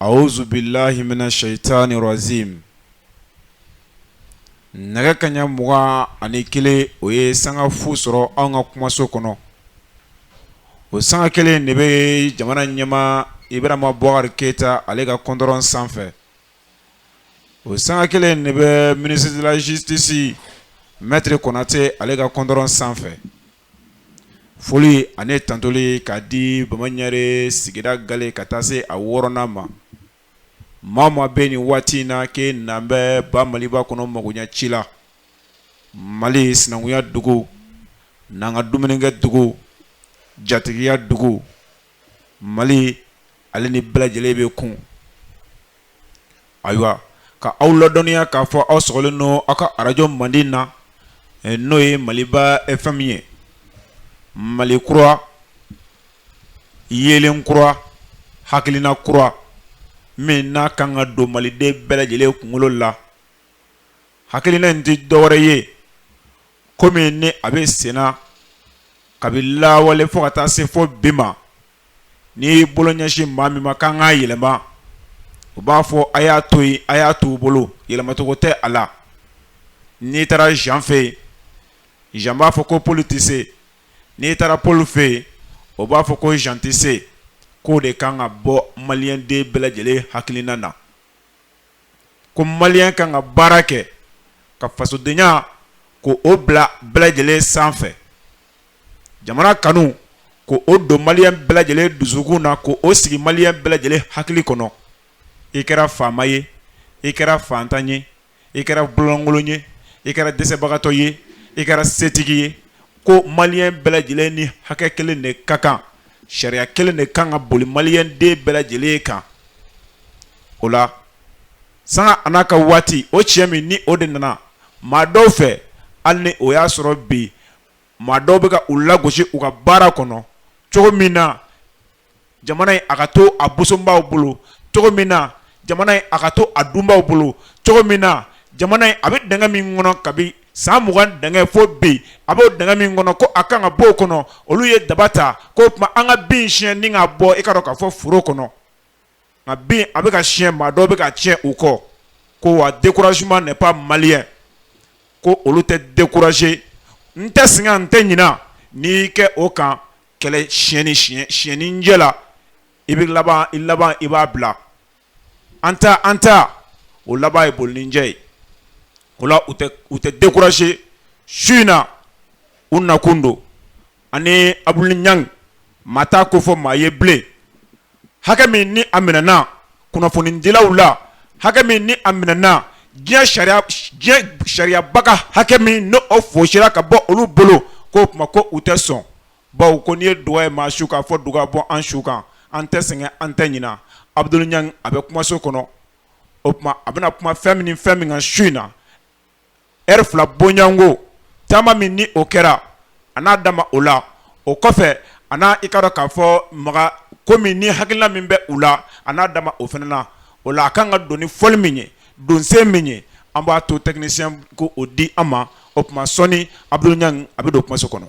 awuzubilayi mina sayitani rajimi nɛgɛ kanɲɛ mugan ani kelen o ye sanga fu sɔrɔ an ka kumaso kɔnɔ o sanga kelen de bɛ jamana ɲɛmaa ibarahima bubakari keyita ale ka kɔndɔrɔn sanfɛ o sanga kelen de bɛ ministre de la justice maître konate ale ka kɔndɔrɔn sanfɛ foli ani tantuli k'a di bama ɲare sigida gale ka taa se a wɔɔrɔnan ma maa maa bɛ nin waati in na kɛ n'an bɛɛ ba maliba kɔnɔ magoɲɛ ci la mali sinankunya dugu n'an ka dumuni kɛ dugu jatigiya dugu mali ale ni bɛɛ lajɛlen bɛ kun ayiwa ka aw ladɔniya k'a fɔ aw sɔgɔlen don aw ka arajo mandi na eh, n'o ye maliba FM ye mali kura yeelen kura hakilina kura min n'a kan ka don maliden bɛɛ lajɛlen kunkolo la hakilina in tɛ dɔwɛrɛ ye ko min ni a bɛ senna kabini lawale fo ka taa se fo bi ma n'i bolo ɲɛsin maa min ma k'a kan ka yɛlɛma u b'a fɔ a y'a to yen a y'a to u bolo yɛlɛmacogo tɛ a la n'i taara jan fɛ yen jan b'a fɔ ko poli tɛ se n'i taara poli fɛ yen o b'a fɔ ko jan tɛ se k'o de kan ka bɔ maliyɛnden bɛɛ lajɛlen hakilina na ko maliyɛn kan ka baara kɛ ka fasodenya k'o bila bɛɛ lajɛlen sanfɛ jamana kanu k'o don maliyɛn bɛɛ lajɛlen dusukun na k'o sigi maliyɛn bɛɛ lajɛlen hakili kɔnɔ i kɛra faama ye i kɛra fantan ye i kɛra bolonkolon ye i kɛra dɛsɛbagatɔ ye i kɛra setigi ye ko maliyɛn bɛɛ lajɛlen ni hakɛ kelen de ka kan sariya kelen de kan ka boli maliyɛnden bɛɛ lajɛlen kan o la sanga a n'a ka waati o cɛ min ni o de nana maa dɔw fɛ hali ni o y'a sɔrɔ bi maa dɔw bɛ ka u lagosi u ka baara kɔnɔ cogo min na jamana in a ka to a bosobaw bolo cogo min na jamana in a ka to a dunbaw bolo cogo min na jamana in a bɛ dingɛ min kɔnɔ kabi san mugan dingɛ fo bi a b'o dingɛ min kɔnɔ ko a kan ka bɔ o kɔnɔ olu ye daba ta k'o tuma an ka bin siyɛn ni k'a bɔ i k'a dɔn k'a fɔ foro kɔnɔ nka bin a bɛ ka siɲɛ maa dɔw bɛ k'a tiɲɛ u kɔ ko wa découragement n'est pas malien ko olu tɛ décourager n tɛ sɛgɛn n tɛ ɲina n'i kɛ o kan kɛlɛ siyɛnni ɲɛ la i bɛ laban i laban i b'a bila an ta an ta o laban ye bolincɛ ye o la u tɛ décourager su in na u nakun don ani abudul ɲangi maa t'a ko fɔ maa ye bilen hakɛ min ni a minɛna kunnafonidilaw la hakɛ min ni a minɛna diɲɛ sariyaba ka hakɛ min n'o fosira ka bɔ olu bolo k'o tuma ko u tɛ sɔn bawo ko n'i ye duga ye maa su kan fɔ duga bɔ an su kan an tɛ sɛgɛn an tɛ ɲina abudul ɲangi a bɛ kumaso kɔnɔ o tuma a bɛna kuma fɛn min fɛn min kan su in na ɛrɛfi labɔ yan ko taama min ni o kɛra a n'a da ma o la o kɔfɛ a n'a i ka dɔn k'a fɔ makan ko min ni hakilina min bɛ u la a n'a da ma o fana na o la a kan ka don ni fɔli min ye donsen min ye an b'a to tɛkinisiyɛn ko o di an ma o tuma sɔnni abudul ɲangi a bɛ don kumaso kɔnɔ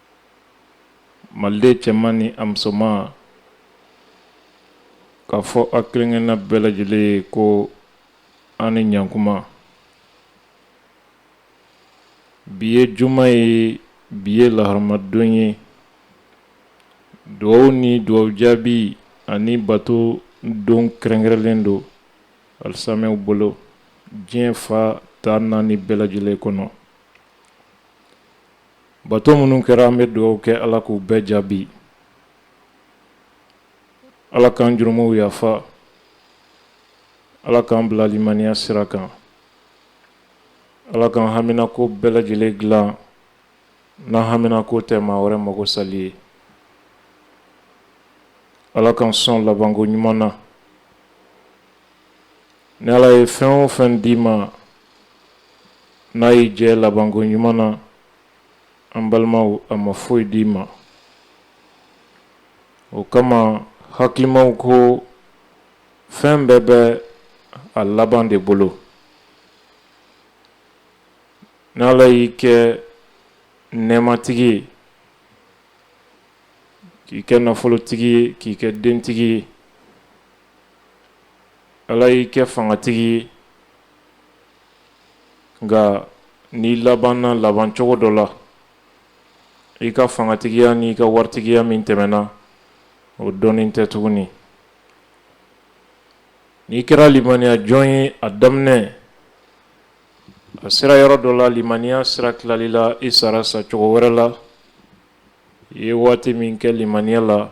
maliden cɛman ni a musoman k'a fɔ a kelenkelenna bɛɛ lajɛlen ye ko an ni ɲankuma bi ye juma ye bi ye laharamadon ye dugawu ni dugawu jaabi ani bato don kɛrɛnkɛrɛnlen don alisamɛw bolo diɲɛ fan tan naani bɛɛ lajɛlen kɔnɔ Bato minnu kɛra an bɛ dugawu kɛ ala k'u bɛɛ jaabi ala k'an jurumuw yafa ala k'an bila limaniya sira kan ala k'an haminako bɛɛ lajɛlen dilan n'an haminako tɛ maa wɛrɛ mago sali ye ala k'an sɔn labanko ɲuman na Ni ala ye fɛn o fɛn d'i ma n'a y'i jɛ labanko ɲuman na an balimaw a ma foyi d'i ma o kama hakilimaw ko fɛn bɛɛ bɛ a laban de bolo ni ala y'i kɛ nɛɛmatigi ye k'i kɛ nafolotigi ye k'i kɛ dentigi ye Ala y'i kɛ fangatigi ye nka n'i labanna laban cogo dɔ la i ka fangatigiya ni i ka waritigiya min tɛmɛna o dɔnni tɛ tuguni n'i kɛra limaniya jɔn ye a daminɛ a sera yɔrɔ dɔ la limaniya sira tilala i la i sara sa cogo wɛrɛ la i ye waati min kɛ limaniya la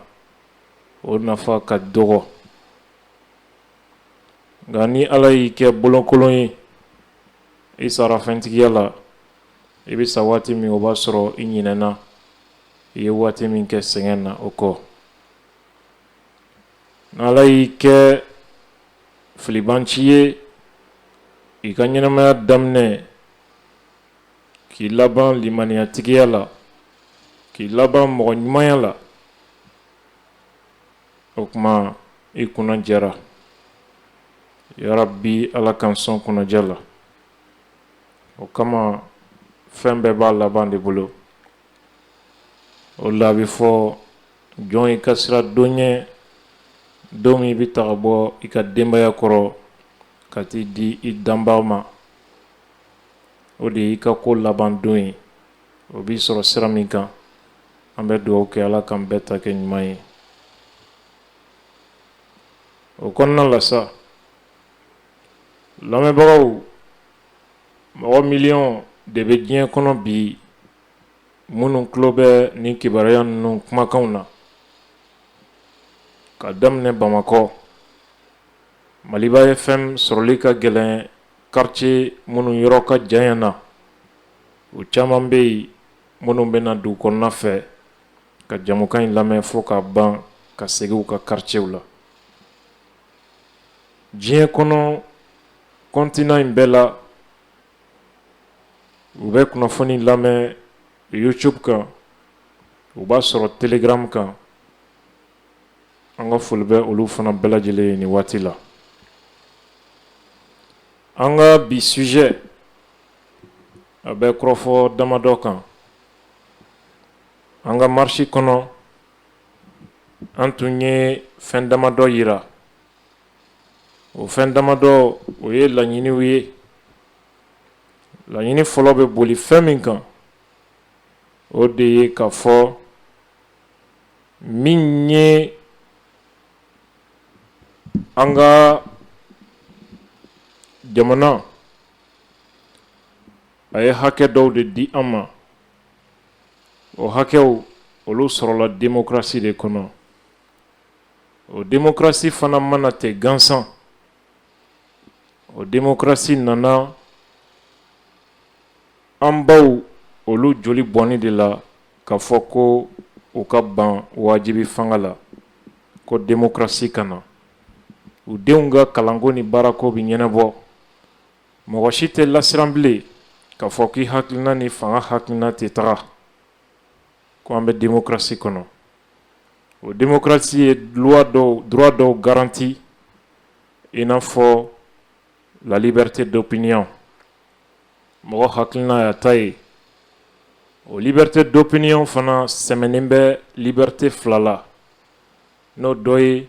o nafa ka dɔgɔ nka ni ala y'i kɛ bolokolon ye i sara fɛntigiya la i bɛ sa waati min o b'a sɔrɔ i ɲinɛna i ye waati min kɛ sɛgɛn na o kɔ n'ala y'i kɛ filibanci ye i ka ɲɛnamaya daminɛ k'i laban limaniyatigiya la k'i laban mɔgɔ ɲumanya la o tuma i kunna diyara yarabi ala k'an sɔn kunnadiya la o kama fɛn bɛɛ b'a laban de bolo o la a bɛ fɔ jɔn i ka sira don ɲɛ don min i bɛ taga bɔ i ka denbaya kɔrɔ ka t'i di i danbaa ma o de y'i ka ko laban don ye o b'i sɔrɔ sira min kan an bɛ dugawu kɛ ala k'an bɛɛ ta kɛ ɲuman ye o kɔnɔna la sa lamɛnbagaw mɔgɔ miliyɔn de bɛ diɲɛ kɔnɔ bi minnu tulo bɛ nin kibaruya ninnu kumakanw na ka daminɛ bamakɔ maliba fm sɔrɔli ka gɛlɛn karicɛ minnu yɔrɔ ka jan na o caman bɛ yen minnu bɛ na dugu kɔnɔna fɛ ka jamukan in lamɛn fo ka ban ka segin u ka karicɛw la diɲɛ kɔnɔ continent in bɛɛ la u bɛ kunnafoni lamɛn youtube kan u b'a sɔrɔ telegramu kan an ka foli bɛ olu fana bɛɛ lajɛlen ye nin waati la an ka bi sujet a bɛ kɔrɔfɔ damadɔ kan an ka marisi kɔnɔ an tun ye fɛn damadɔ jira o fɛn damadɔ o ye laɲiniw ye laɲini fɔlɔ bɛ boli fɛn min kan o de ye k'a fɔ min ye an ka jamana a ye hakɛ dɔw de di an ma o hakɛw olu sɔrɔla demokrasi de kɔnɔ o demokrasi fana ma na ten gansan o demokrasi nana an baw olu joli bɔnni de la k'a fɔ ko u ka ban wajibi fanga la ko demokrasi ka na u denw ka kalanko ni baarako bɛ ɲɛnabɔ mɔgɔ si tɛ lasiran bilen k'a fɔ k'i hakilina ni fanga hakilina tɛ taga ko an bɛ démocratie kɔnɔ o démocratie ye loi dɔw droit dɔw garanti i n'a fɔ la liberté d'opinion mɔgɔ hakilina y'a ta ye o liberté d'opinion fana sɛmɛnen bɛ liberté fila la n'o dɔ ye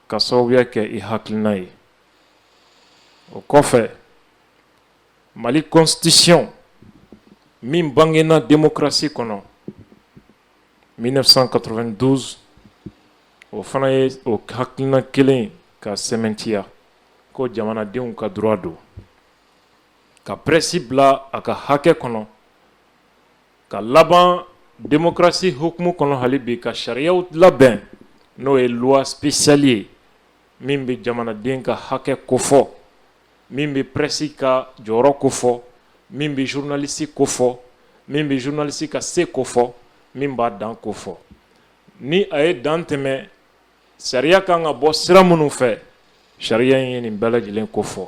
ka sababuya kɛ i hakilina ye o kɔfɛ mali constitution min bangena démocratie kɔnɔ 1992 o fana ye o hakilina kelen ka sɛmɛntiya ko jamanadenw ka droit don ka presse bila a ka hakɛ kɔnɔ ka laban démocratie hukumu kɔnɔ hali bi ka sariyaw labɛn n'o ye loi spéciale ye min bɛ jamanaden ka hakɛ kofɔ min bɛ presse ka jɔyɔrɔ kofɔ min bɛ journaliste kofɔ min bɛ journaliste ka se kofɔ min b'a dan kofɔ ni a ye dan tɛmɛ sariya kan ka bɔ sira minnu fɛ sariya in ye nin bɛɛ lajɛlen kofɔ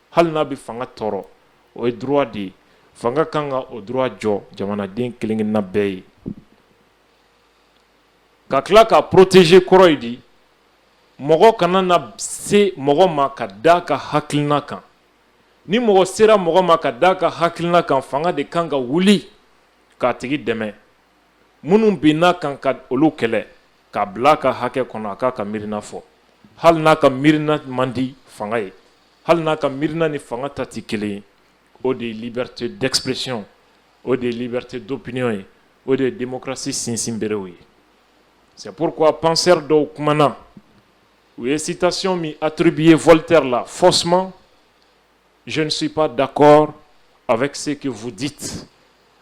hali n'a bɛ fanga tɔɔrɔ o ye droit de ye fanga kan ka o droit jɔ jamanaden kelen kelenna bɛɛ ye ka tila k'a protéger kɔrɔ ye di mɔgɔ kana na se mɔgɔ ma k'a da a ka hakilina kan ni mɔgɔ sera mɔgɔ ma k'a da a ka hakilina kan fanga de kan ka wuli k'a tigi dɛmɛ minnu binna a kan ka olu kɛlɛ k'a bila a ka hakɛ kɔnɔ a k'a ka miirina fɔ hali n'a ka miirina man di fanga ye hali n'a ka miirina ni fanga ta tɛ kelen ye o de ye liberté d'expression o de ye liberté d'opinion ye o de ye démocratie sinsinberew ye c'est pourquoi penseur dɔw kumana u ye citation min attribuer Voltaire la faussement Zsi pa da kɔrɔ a bɛ se ka fu di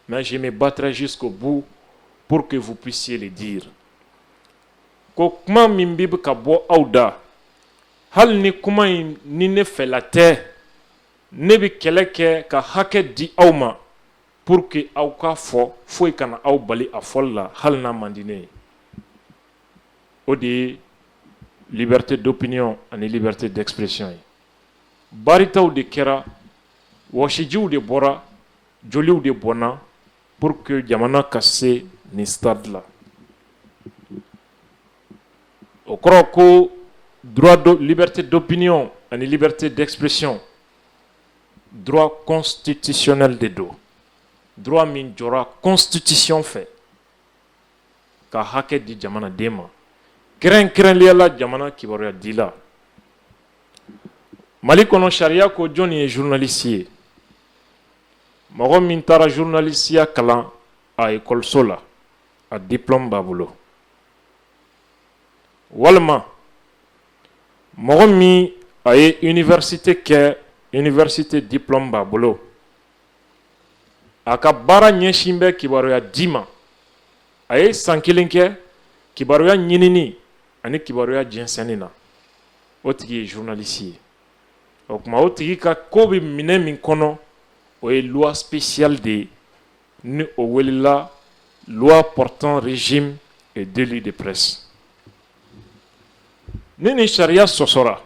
mɛ zi bɛ batrazi ko bon po que fu p se de di ko kuma min bɛ bɛ ka bɔ aw da hali ni kuma in ni ne fɛla tɛ ne bɛ kɛlɛ kɛ ka hakɛ di aw ma po que aw ka fɔ foyi kana aw bali a fɔ la hali n'a mande ye o de ye libite dɔpyɔn ani libite dɛsɛpresi ye baritaw de kɛra wɔsijiw de bɔra joliw de bɔnna pour que jamana ka se nin stade la o kɔrɔ ko droit de liberté d'opinion ani liberté d'expression droit constitutionnel de don droit min jɔra constitution fɛ ka hakɛ di jamanaden ma kɛrɛnkɛrɛnniya la jamana kibaruya dila mali kɔnɔ sariya ko jɔnni ye journaliste ye mɔgɔ min taara journalistiya kalan a ekɔliso la a diplôme b'a bolo walima mɔgɔ min a ye université kɛ université diplôme b'a bolo a ka baara ɲɛsin bɛ kibaruya di ma a ye san kelen kɛ kibaruya ɲinini ani kibaruya jɛnsɛnni na o tigi ye journaliste ye o kuma o tigi ka ko bɛ minɛ min kɔnɔ o ye loi spéciale de ye ni o welela loi portant régime et délit de presse ni ni sariya sɔsɔra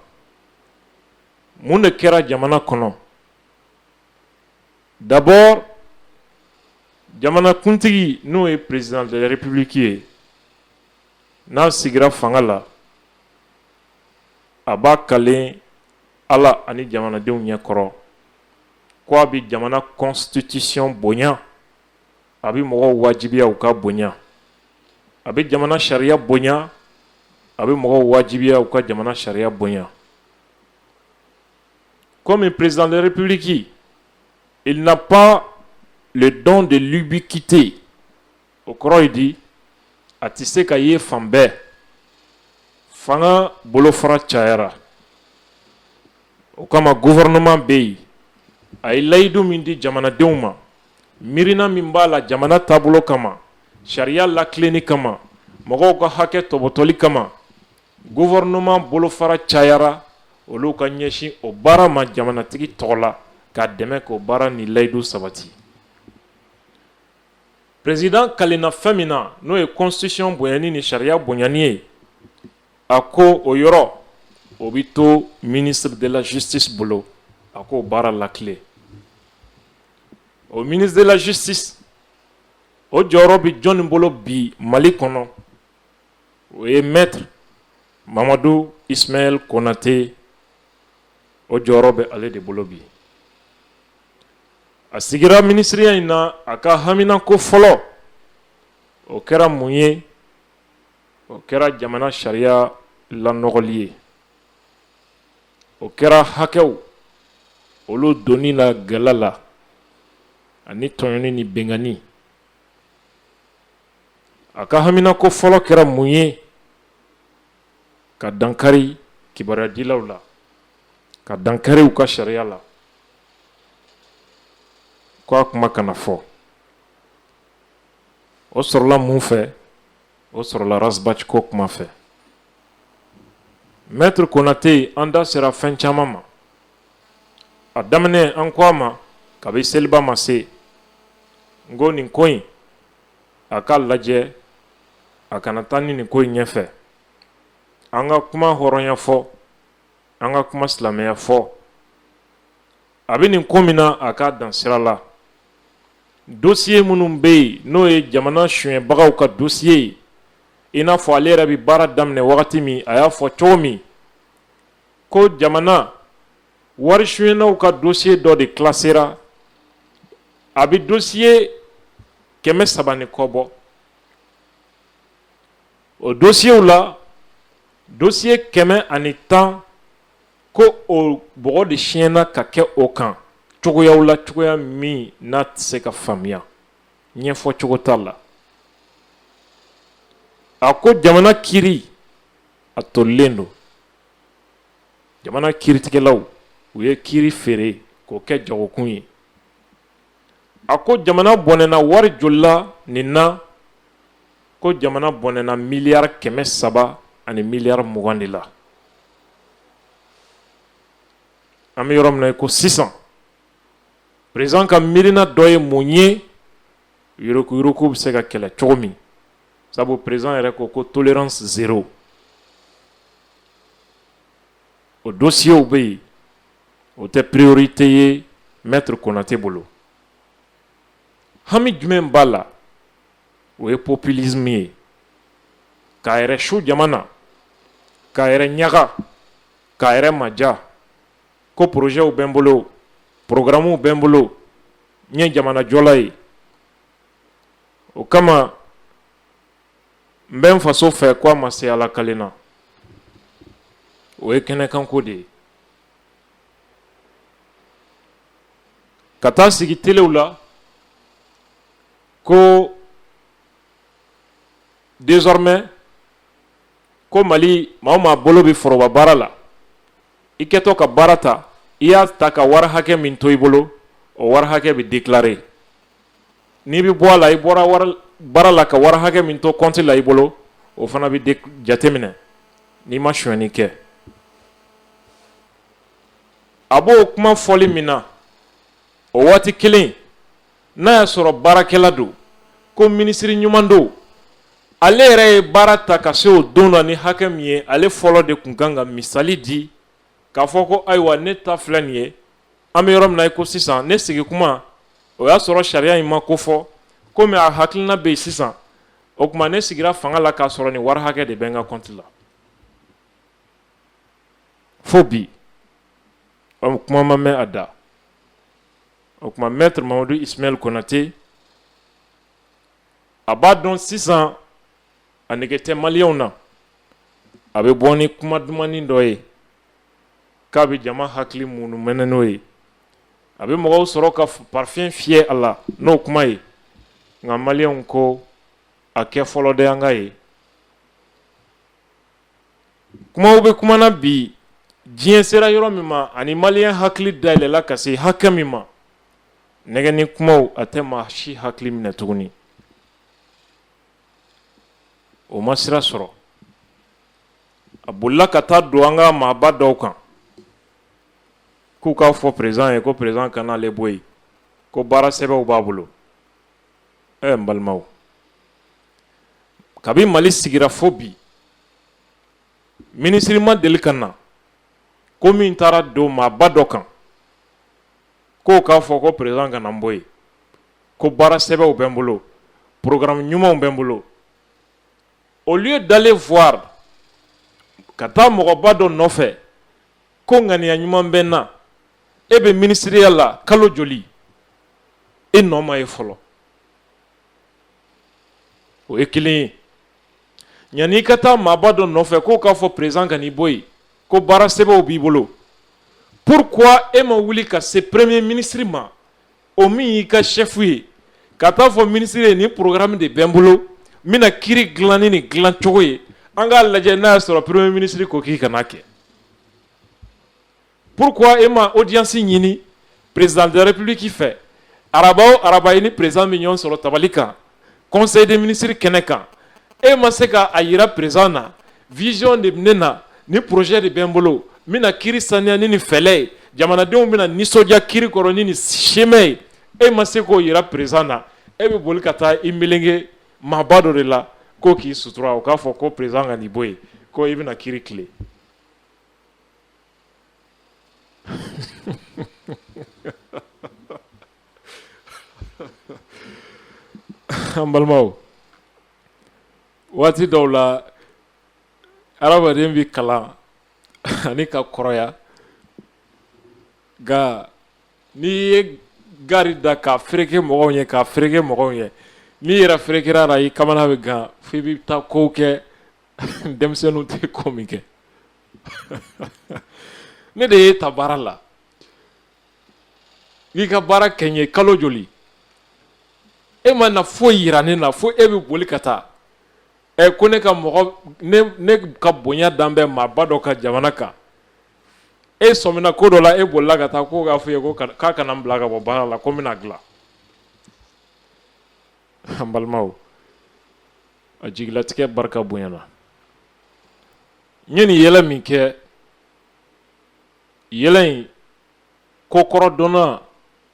mun de kɛra jamana kɔnɔ D'abord jamanakuntigi n'o ye président de la République ye n'a sigira fanga la a b'a kalen ala ani jamanadenw ɲɛkɔrɔ ko a bɛ jamana constitution bonya a bɛ mɔgɔw wajibiya u k'a bonya a bɛ jamana sariya bonya a bɛ mɔgɔw wajibiya u ka jamana sariya bonya Comme président de la République, il n'a pas le don de l'ubiquité. O kɔrɔ ye di, a tɛ se ka ye fan bɛɛ fanga bolofara cayara o kama gouvernement bɛ yen a ye layidu min di jamanadenw ma miirina min b'a la jamana taabolo kama sariya latilenni kama mɔgɔw ka hakɛ tɔbɔtɔli kama Gouvernement bolofara cayara olu ka ɲɛsin o baara ma jamanatigi tɔgɔ la k'a dɛmɛ k'o baara ni layidu sabati président kalenna fɛn min na n'o ye constitution bonyani ni sariya bonyani ye a ko o yɔrɔ o bɛ to ministre de la Justice bolo a k'o baara latilen o ministre de la Justice o jɔyɔrɔ bɛ jɔnni bolo bi mali kɔnɔ o ye maître mamadu ismaël konatɛ o jɔyɔrɔ bɛ ale de bolo bi a sigira minisiriya in na a ka haminako fɔlɔ o kɛra mun ye o kɛra jamana sariya lanɔgɔli ye o kɛra hakɛw olu donni la gɛlɛ la ani tɔɲɔni ni binkanni a ka haminako fɔlɔ kɛra mun ye ka dankari kibaruyadilaw la ka dankari u ka sariya la ko a kuma kana fɔ o sɔrɔla mun fɛ o sɔrɔla ras bath ko kuma fɛ mɛtiri konate an da sera fɛn caman ma a daminɛ an ko a ma kabi seliba ma se n ko nin ko in a k'a lajɛ a kana taa ni nin ko in ɲɛfɛ an ka kuma hɔrɔnya fɔ an ka kuma silamɛya fɔ a bɛ nin ko min na a ka dan sira la dosiye minnu bɛ yen n'o ye jamana sonyɛbagaw ka dosiye ye i n'a fɔ ale yɛrɛ bɛ baara daminɛ wagati min a y'a fɔ cogo min ko jamana wari sonyɛnaw ka dosiye dɔ de kilasera a bɛ dosiye kɛmɛ saba ni kɔ bɔ o dosiyew la dosiye kɛmɛ ani tan ko o bɔgɔ de siɲɛna ka kɛ o kan cogoyaw la cogoya min n'a tɛ se ka faamuya ɲɛfɔ cogo t'a la a ko jamana kiri a tolilen don jamana kiritigɛlaw u ye kiri feere k'o kɛ jagokun ye a ko jamana bɔnɛna wari joli la nin na ko jamana bɔnɛna miliyari kɛmɛ saba ani miliyari mugan de la an bɛ yɔrɔ min na ko sisan peresidan ka miirina dɔ ye mun ye yurukuyuruku bɛ se ka kɛlɛ cogo min sabu peresidan yɛrɛ ko ko tolérance zéro o dosiyew bɛ yen o tɛ priorité ye mɛtiri konate bolo hami jumɛn b'a la o ye populisme ye k'a yɛrɛ su jamana na k'a yɛrɛ ɲaga k'a yɛrɛ madiya ko porozɛw bɛ n bolo porogaramuw bɛ n bolo n ye jamanajɔla ye o kama n bɛ n faso fɛ ko a ma se ala kalen na o ye kɛnɛkanko de ye ka taa sigi telew la ko désormais ko mali maa o maa bolo bɛ foroba baara la i kɛtɔ ka baara ta i y'a ta ka wari hakɛ min to i bolo o wari hakɛ bɛ dekilare N'i bɛ bɔ a la i bɔra baara la ka wari hakɛ min to kɔnti la i bolo o fana bɛ jateminɛ n'i ma sonyɛni kɛ a b'o kuma fɔli min na o waati kelen n'a y'a sɔrɔ baarakɛla don ko minisiri ɲuman don ale yɛrɛ ye baara ta ka se o don na ni hakɛ min ye ale fɔlɔ de tun kan ka misali di k'a fɔ ko ayiwa ne ta filɛ nin ye an bɛ yɔrɔ min na i ko sisan ne sigi kuma o y'a sɔrɔ sariya in ma ko fɔ komi a hakilina bɛ yen sisan o tuma ne sigira fanga la k'a sɔrɔ nin wari hakɛ de bɛ n ka kɔnti la fo bi kuma ma mɛn a da o tuma mɛtiri mamadu ismayɛli konate a b'a dɔn sisan a nege tɛ maliyɛnw na a bɛ bɔ ni kuma dumannin dɔ ye k'a bɛ jama hakili munumɛnɛ n'o ye, a bɛ mɔgɔw sɔrɔ ka parfum fiyɛ a la n'o kuma ye, nka maliyɛnw ko a kɛ fɔlɔ dɛ an k'a ye. Kumaw bɛ kuma na bi, diɲɛ sera yɔrɔ min ma ani maliyɛn hakili dayɛlɛla ka se hakɛ min ma, nɛgɛnni kumaw a tɛ maa si hakili minɛ tuguni. O ma sira sɔrɔ. a bolila ka taa don an ka maaba dɔw kan k'u k'a fɔ perezidan ye ko perezidan kana ale bɔ yen ko baara sɛbɛnw b'a bolo ɛ n balimaw kabi mali sigira fo bi minisiri ma deli ka na ko min taara don maaba dɔ kan k'o k'a fɔ ko perezidan kana n bɔ yen ko baara sɛbɛnw bɛ n bolo porogaramu ɲumanw bɛ n bolo au lieu d'aller voir ka taa mɔgɔba dɔ nɔfɛ ko ŋaniya ɲuman bɛ n na e bɛ minisiriya la kalo joli e nɔ ma ye fɔlɔ o ye kelen ye yani i ka taa maaba dɔ nɔfɛ k'o k'a fɔ perezidan kan'i bɔ yen ko baara sɛbɛnw b'i bolo pourquoi e ma wuli ka se peremiye minisiri ma o min y'i ka shɛfu ye ka t'a fɔ minisiri ye nin porogaramu de bɛ n bolo n bɛna kiiri dilan ni nin dilan cogo ye an k'a lajɛ n'a y'a sɔrɔ peremiye minisiri ko k'i kan'a kɛ pourquoi e ma odiyansi ɲini président de la république fɛ araba o araba i ni perezidan bɛ ɲɔgɔn sɔrɔ tabali kan conseil des ministres kɛnɛ kan e ma se k'a jira perezidan na vision de ne na ni projet de bɛ n bolo n bɛna kiiri saniya ni nin fɛɛrɛ ye jamanadenw bɛna nisɔndiya kiiri kɔrɔ ni nin chemin ye e ma se k'o jira perezidan na e bɛ boli ka taa i melenge maaba dɔ de la k'o k'i sutura o k'a fɔ ko perezidan kan'i bɔ yen ko i bɛna kiiri tilen An balimaw waati dɔw la adamaden bɛ kalan ani ka kɔrɔya nka n'i ye gari da ka fereke mɔgɔw ye ka fereke mɔgɔw ye n'i yɛrɛ ferekera la i kamana bɛ gan fo i bɛ taa kow kɛ denmisɛnninw tɛ ko min kɛ ne de y'e ta baara la n'i ka baara kɛ n ye kalo joli e ma na foyi jira ne na fo e bɛ boli ka taa ɛ ko ne ka mɔgɔ ne ka bonya dan bɛ maaba dɔ ka jamana kan e sɔmina ko dɔ la e bolila ka taa ko k'a fɔ ye ko k'a kana n bila ka bɔ baara la ko n bɛn'a dilan an balimaw a jigilatigɛ barika bonyana n ye nin yɛlɛ min kɛ yɛlɛ in kokɔrɔdɔnna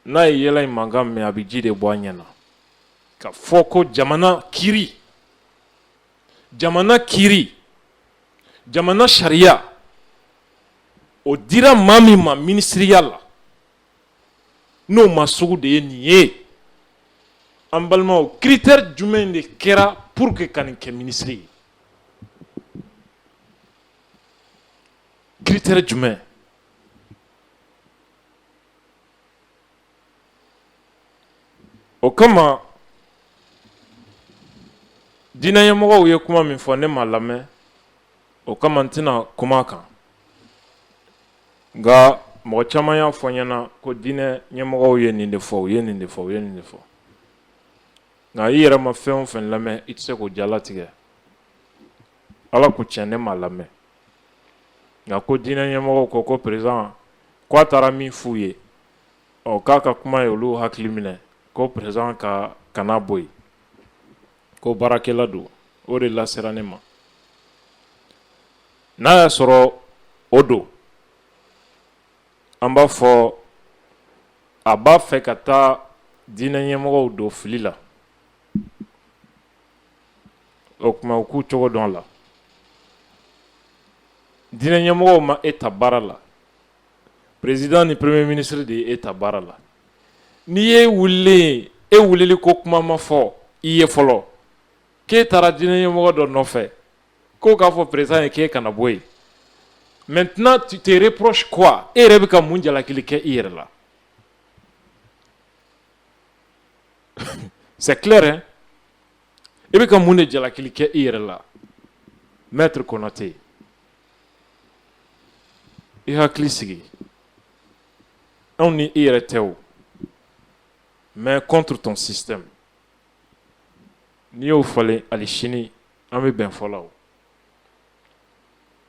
n'a ye yɛlɛ in mankan mɛn a bɛ ji de bɔ a ɲɛ na ka fɔ ko jamana kiiri jamana kiiri jamana sariya o dira maa min ma minisiriya la n'o maa sugu de ye nin ye an balimaw critère jumɛn de kɛra pour que ka nin kɛ minisiri ye critère jumɛn o kama diinɛ ɲɛmɔgɔw ye kuma min fɔ ne ma lamɛn o kama n tɛna kuma a kan nka mɔgɔ caman y'a fɔ n ɲɛna ko diinɛ ɲɛmɔgɔw ye nin de fɔ u ye nin de fɔ u ye nin de fɔ nka i yɛrɛ ma fɛn o fɛn lamɛn i tɛ se k'o jalatigɛ ala ko cɛn ne ma lamɛn nka ko diinɛ ɲɛmɔgɔw ko ko président k'a taara min f'u ye ɔ k'a ka kuma ye olu hakili minɛ ko président kana bɔ yen ko baarakɛla don o de lasera ne ma n'a y'a sɔrɔ o don an b'a fɔ a b'a fɛ ka taa diinɛ ɲɛmɔgɔw don fili la o tuma u k'u cogo dɔn la diinɛ ɲɛmɔgɔw ma e ta baara la président ni premier ministre de ye e ta baara la n'i ye wulili in e wulili ko kuma ma fɔ i ye fɔlɔ k'e taara diinɛ ɲɛmɔgɔ dɔ nɔfɛ ko k'a fɔ président ye k'e kana bɔ yen maintenant tu te reproches quoi e yɛrɛ bɛ ka mun jalakili kɛ i yɛrɛ la c'est clair i bɛ ka mun de jalakili kɛ i yɛrɛ la maître Konaté i hakili sigi anw ni i yɛrɛ tɛ o mais contre ton système n'i y'o falen ali sini an bɛ bɛn fɔ la o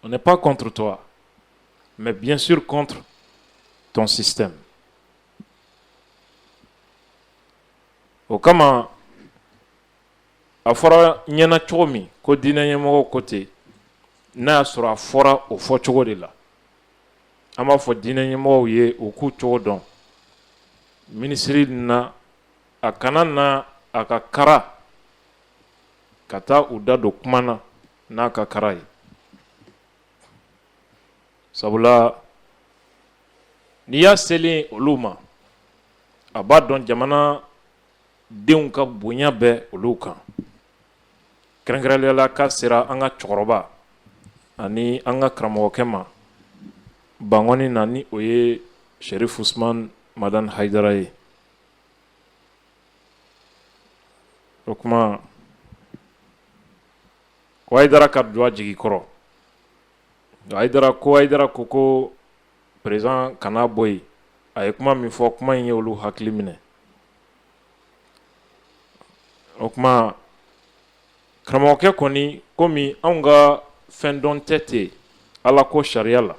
on n'est pas contre toi mais bien sûr contre ton système o kama a fɔra ɲɛna cogo min ko diinɛ ɲɛmɔgɔw ko ten n'a y'a sɔrɔ a fɔra o fɔ cogo de la an b'a fɔ diinɛ ɲɛmɔgɔw ye u k'u cogo dɔn minisiri na a kana na a ka kara ka taa u da don kuma na n'a ka kara ye sabula n'i y'a selen olu ma a b'a dɔn jamana denw ka bonya bɛ olu kan kɛrɛnkɛrɛnnenya la ka sera an ka cɛkɔrɔba ani an ka karamɔgɔkɛ ma bangɔni na ni o ye serif usman madani hayidara ye o kuma hayidara ka don a jigi kɔrɔ a hayidara ko ko président kana bɔ yen a ye kuma min fɔ kuma in ye olu hakili minɛ o kuma karamɔgɔkɛ kɔni komi anw ka fɛn dɔn tɛ ten ala ko sariya la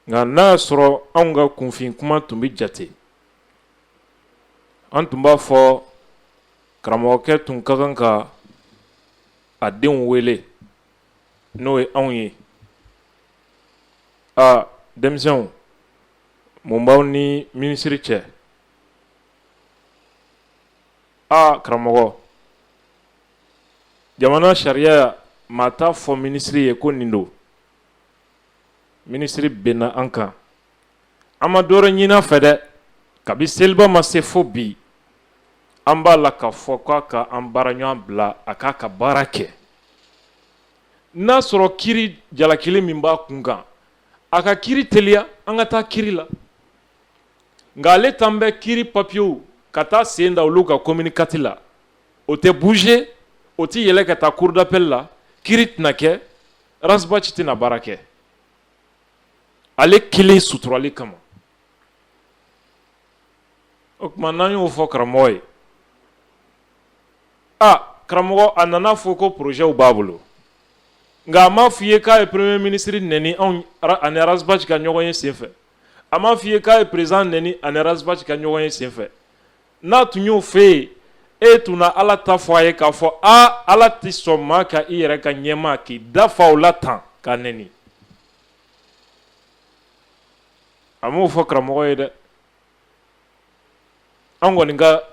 nka n'a y'a sɔrɔ anw ka kunfin kuma tun bɛ jate an tun b'a fɔ karamɔgɔkɛ tun ka kan ka a denw wele n'o ye anw ye aa denmisɛnw mun b'aw ni minisiri cɛ aa karamɔgɔ jamana sariya maa t'a fɔ minisiri ye ko nin don minisiri binna an kan an ma dɔ wɛrɛ ɲini a fɛ dɛ kabi seliba ma se fo bi an b'a la k'a fɔ k'a ka an baara ɲɔgɔn bila a k'a ka baara kɛ n'a sɔrɔ kiri jalakili min b'a kun kan a ka kiri teliya an ka taa kiri la nka ale t'an bɛ kiri papiyew ka taa sen da olu kan commune quatre la o tɛ bouger o tɛ yɛlɛ ka taa cour d'appel la kiri tɛna kɛ Rasbaci tɛna baara kɛ ale kelen suturali kama o tuma n'an y'o fɔ karamɔgɔ ye aa karamɔgɔ a nana fɔ ko projetw b'a bolo nka a m'a f'i ye k'a ye premier ministre nɛni anw ani Rasbaci ka ɲɔgɔn ye senfɛ a m'a f'i ye k'a ye président nɛni ani Rasbaci ka ɲɔgɔn ye senfɛ N'a tun y'o f'e ye e tun na ala ta fɔ a ye k'a fɔ aa ala tɛ sɔn maa ka i yɛrɛ ka ɲɛmaa k'i dafa o la tan k'a nɛni a m'o fɔ karamɔgɔ ye dɛ an kɔni ka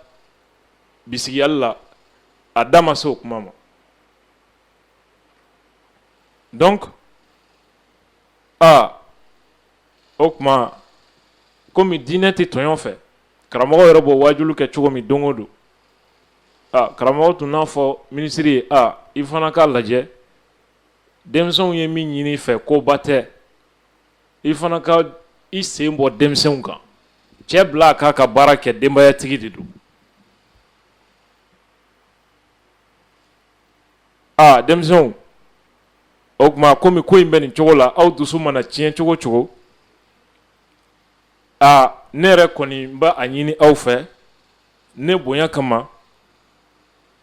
bisigiyali la a da ma se o kuma ma donc aa o tuma kɔmi diinɛ tɛ tɔɲɔ fɛ karamɔgɔ yɛrɛ b'o wajulu kɛ cogo min don o don karamɔgɔ tun n'a fɔ minisiri ye aa i fana k'a lajɛ denmisɛnw ye min ɲini i fɛ koba tɛ i fana ka i sen bɔ denmisɛnw kan cɛ bila a k'a ka baara kɛ denbayatigi de don aa denmisɛnw o tuma kɔmi ko in bɛ nin cogo la aw dusu mana tiɲɛ cogo cogo aa ne yɛrɛ kɔni n b'a a ɲini aw fɛ ne bonya kama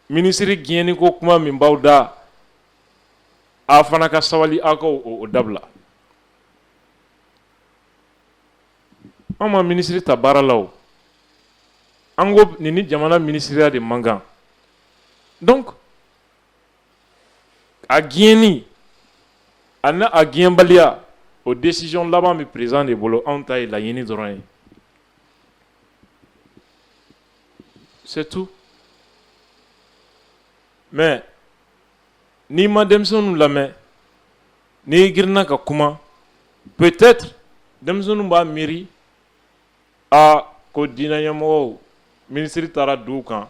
minisiri gɛnni ko kuma min b'aw da a fana ka sabali aw ka o dabila anw ma minisiri ta baara la o an ko nin ni jamana minisiriya de man kan donc a gɛnni ani a gɛnbaliya o décision laban bɛ président de bolo anw ta ye laɲini dɔrɔn ye c'est tout mais n'i ma denmisɛnninw lamɛn n'i girinna ka kuma peut-être denmisɛnninw b'a miiri a ko diinɛ ɲɛmɔgɔw minisiri taara duw kan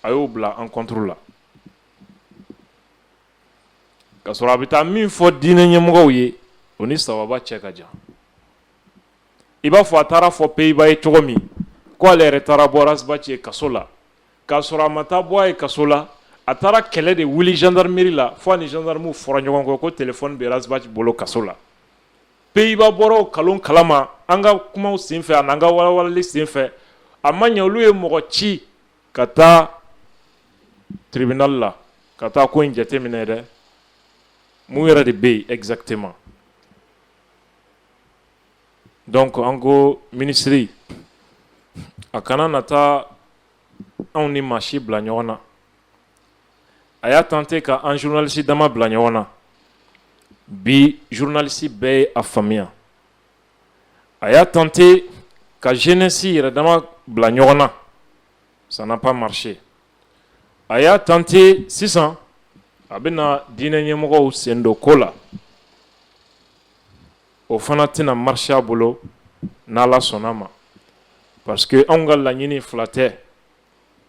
a y'o bila an contre la Ka sɔrɔ a bɛ taa min fɔ diinɛ ɲɛmɔgɔw ye o ni sawaba cɛ ka jan i b'a fɔ a taara a fɔ Bayiba ye cogo min k' ale yɛrɛ taara bɔ Rasbaci ye kaso la k'a sɔrɔ a ma taa bɔ a ye kaso la a taara kɛlɛ de wuli gendarmerie la fo a ni gendarmew fɔra ɲɔgɔn kɔ ko telefɔni bɛ Rasbaci bolo kaso la Bayiba bɔra o nkalon kalama an ka kumaw senfɛ ani an ka walawalali senfɛ a ma ɲɛ olu ye mɔgɔ ci ka taa tribunal la ka taa ko in jateminɛ dɛ, mun yɛrɛ de bɛ yen exactement donc an ko minisiri a kana na taa anw ni maa si bila ɲɔgɔn na, a y'a tenter ka an journaliste dama bila ɲɔgɔn na, bi journaliste bɛɛ ye a faamuya. a y'a tenter ka jeunesse yɛrɛ dama bila ɲɔgɔn na ça n'a pas marché a y'a tenter sisan a bɛna diinɛ ɲɛmɔgɔw sen don ko la o fana tɛna marcher a bolo n'ala sɔnna a ma parce que anw ka laɲini fila tɛ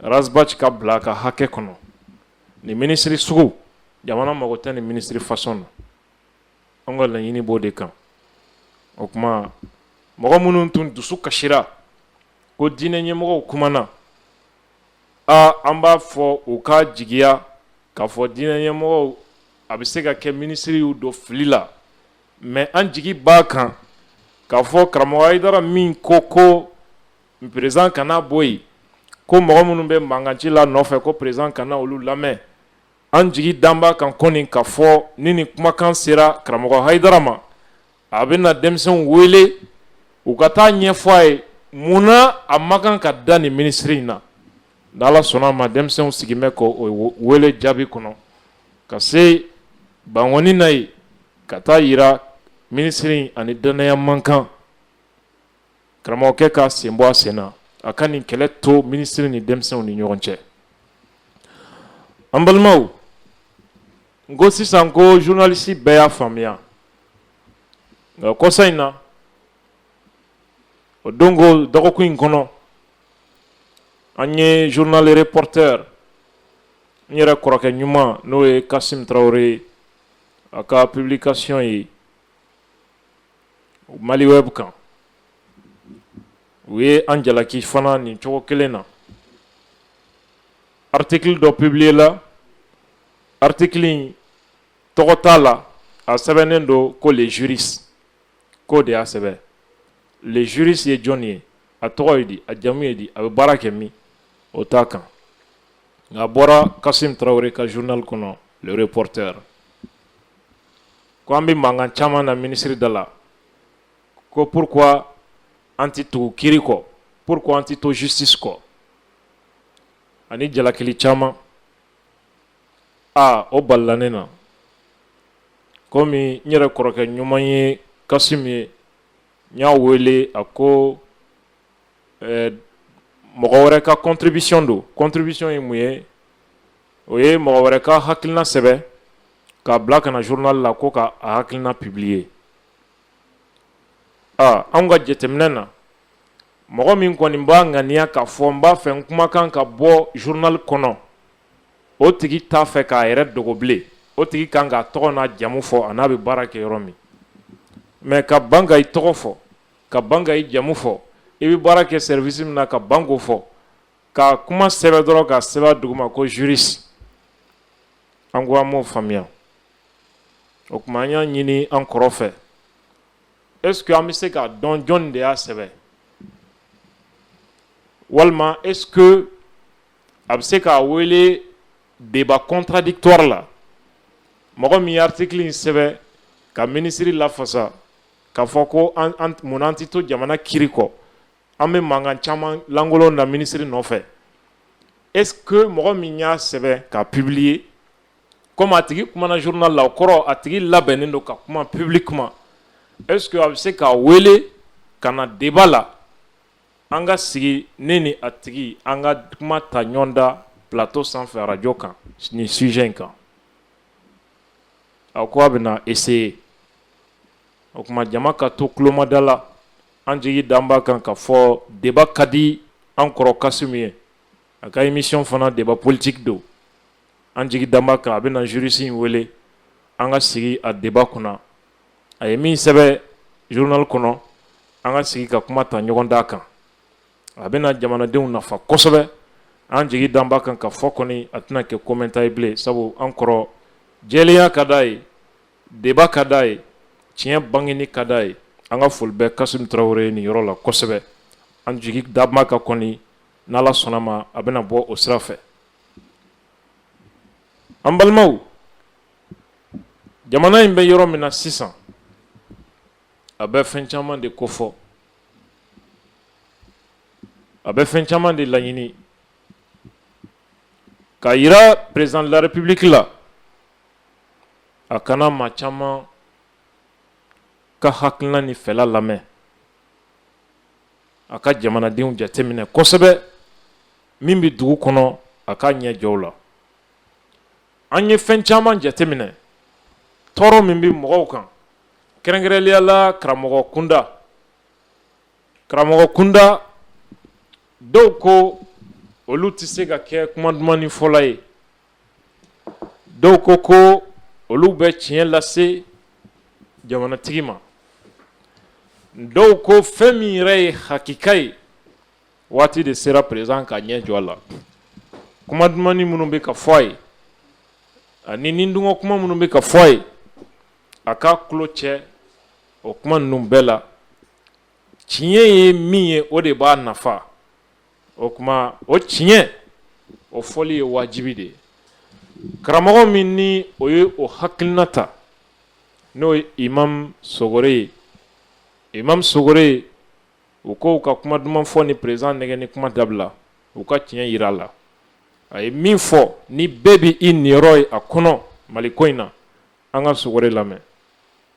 ras bath ka bila a ka hakɛ kɔnɔ nin minisiri sugu jamana mago tɛ nin minisiri fasɔn na an ka laɲini b'o de kan o tuma mɔgɔ minnu tun dusu kasira ko diinɛ ɲɛmɔgɔw kumana aa an b'a fɔ u ka jigiya k'a fɔ diinɛ ɲɛmɔgɔw a bɛ se ka kɛ minisiri y'u don fili la mais an jigi b'a kan k'a fɔ karamɔgɔ hayidara min ko ko président kana bɔ yen ko mɔgɔ minnu bɛ mankan ci la nɔfɛ ko président kana olu lamɛn an jigi dan b'a kan kɔni k'a fɔ ni nin kumakan sera karamɔgɔ hayidara ma a bɛna denmisɛnw wele u ka taa ɲɛfɔ a ye mun na a man kan ka da nin minisiri in na ni ala sɔnna a ma denmisɛnw sigin bɛ k'o wele jaabi kɔnɔ ka se bankɔni na yen ka taa jira minisiri a ni dannaya man kan karamɔgɔkɛ k'a sen bɔ a sen na a ka nin kɛlɛ to minisiri ni denmisɛnw ni ɲɔgɔn cɛ an balimaw n ko sisan ko journaliste bɛɛ y'a faamuya nka kɔsa in na o don ko dɔgɔkun in kɔnɔ an ye journal reporter n yɛrɛ kɔrɔkɛ ɲuman n'o ye kasim tarawele ye a ka publication ye mali web kan u ye an jalaki fana nin cogo kelen na article dɔ publier la article in tɔgɔ t'a la a sɛbɛnnen don ko le juriste k'o de y'a sɛbɛn le juriste ye jɔnni ye a tɔgɔ ye di a jamu ye di a bɛ baara kɛ min o t'a kan nka a bɔra kasim tarawele ka journal kɔnɔ le reporter Ko an bɛ mankan caman na minisiri da la ko pourquoi an tɛ tugu kiri kɔ pourquoi an tɛ to justice kɔ ani jalakili caman aa o balala ne na kɔmi n yɛrɛ kɔrɔkɛ ɲuman ye Kasimu ye n y'a wele a ko mɔgɔ wɛrɛ ka contribution don contribution ye mun ye o ye mɔgɔ wɛrɛ ka hakilina sɛbɛn k'a bila ka na journal la ko k'a hakilina publier aa an ka jateminɛ na mɔgɔ min kɔni b'a ŋaniya k'a fɔ n b'a fɛ n kumakan ka bɔ journal kɔnɔ o tigi t'a fɛ k'a yɛrɛ dogo bilen o tigi kan k'a tɔgɔ n'a jamu fɔ a n'a bɛ baara kɛ yɔrɔ min mais ka ban k'i tɔgɔ fɔ ka ban k'i jamu fɔ i bɛ baara kɛ service min na ka ban k'o fɔ ka kuma sɛbɛn dɔrɔn k'a sɛbɛn duguma ko juriste an ko an m'o faamuya o tuma an y'a ɲini an kɔrɔ fɛ est-ce que an bɛ se k'a dɔn jɔn de y'a sɛbɛn walima est-ce que a bɛ se k'a wele débat contradictoire la mɔgɔ min ye article in sɛbɛn ka minisiri lafasa k'a fɔ ko mun na an tɛ to jamana kiri kɔ an bɛ mankan caman lankolon na minisiri nɔfɛ est-ce que mɔgɔ min y'a sɛbɛn k'a publier kɔmi a tigi kumana journal la o kɔrɔ a tigi labɛnnen don ka kuma publiquement est-ce que a bɛ se k'a wele ka na deba la an ka sigi ne ni a tigi an ka kuma ta ɲɔgɔn da plateau sanfɛ arajo kan ni sujet in kan a ko a bɛna essayer o tuma jama ka to tulomada la An jigi dan b'a kan k'a fɔ deba ka di an kɔrɔ Kasimu ye a ka émission fana deba politigi don an jigi dan b'a kan a bɛna juriste in wele an ka sigi a deba kunna a ye min sɛbɛn journal kɔnɔ an ka sigi ka kuma ta ɲɔgɔn da kan a bɛna jamanadenw nafa kosɛbɛ an jigi dan b'a kan k'a fɔ kɔni a tɛna kɛ commentaire ye bilen sabu an kɔrɔ jɛlenya ka d'a ye deba ka d'a ye tiɲɛ bangeni ka d'a ye an ka foli bɛ Kasimu Tarawele ye nin yɔrɔ la kosɛbɛ an jigi dan b'a kan kɔni n'Ala sɔnna ma a bɛna bɔ o sira fɛ an balimaw jamana in bɛ yɔrɔ min na sisan a bɛ fɛn caman de kofɔ a bɛ fɛn caman de laɲini k'a yira président de la République la a ka na maa caman ka hakilina ni fɛla lamɛn a ka jamanadenw jateminɛ kosɛbɛ min bɛ dugu kɔnɔ a k'a ɲɛ jɔ u la an ye fɛn caman jateminɛ tɔɔrɔ min bɛ mɔgɔw kan kɛrɛnkɛrɛnnenya la karamɔgɔ kunda karamɔgɔ kunda dɔw ko olu tɛ se ka kɛ kuma dumannin fɔla ye dɔw ko ko olu bɛ tiɲɛ lase jamanatigi ma dɔw ko fɛn min yɛrɛ ye hakika ye waati de sera peresidan k'a ɲɛ jɔ a la kuma duman minnu bɛ ka fɔ a ye ani nidungɔ kuma minnu bɛ ka fɔ a ye a k'a tulo cɛ o kuma ninnu bɛɛ la tiɲɛ ye min ye o de b'a nafa o tuma o tiɲɛ o fɔli ye wajibi de ye karamɔgɔ min ni o ye o hakilina ta n'o ye imam sogore ye imam sogore ye u ko u ka kuma duman fɔ ni peresidan nɛgɛnni kuma dabila u ka tiɲɛ yira a la a ye min fɔ ni bɛɛ bɛ i niyɔrɔ ye a kɔnɔ mali ko in na an ka sogore lamɛn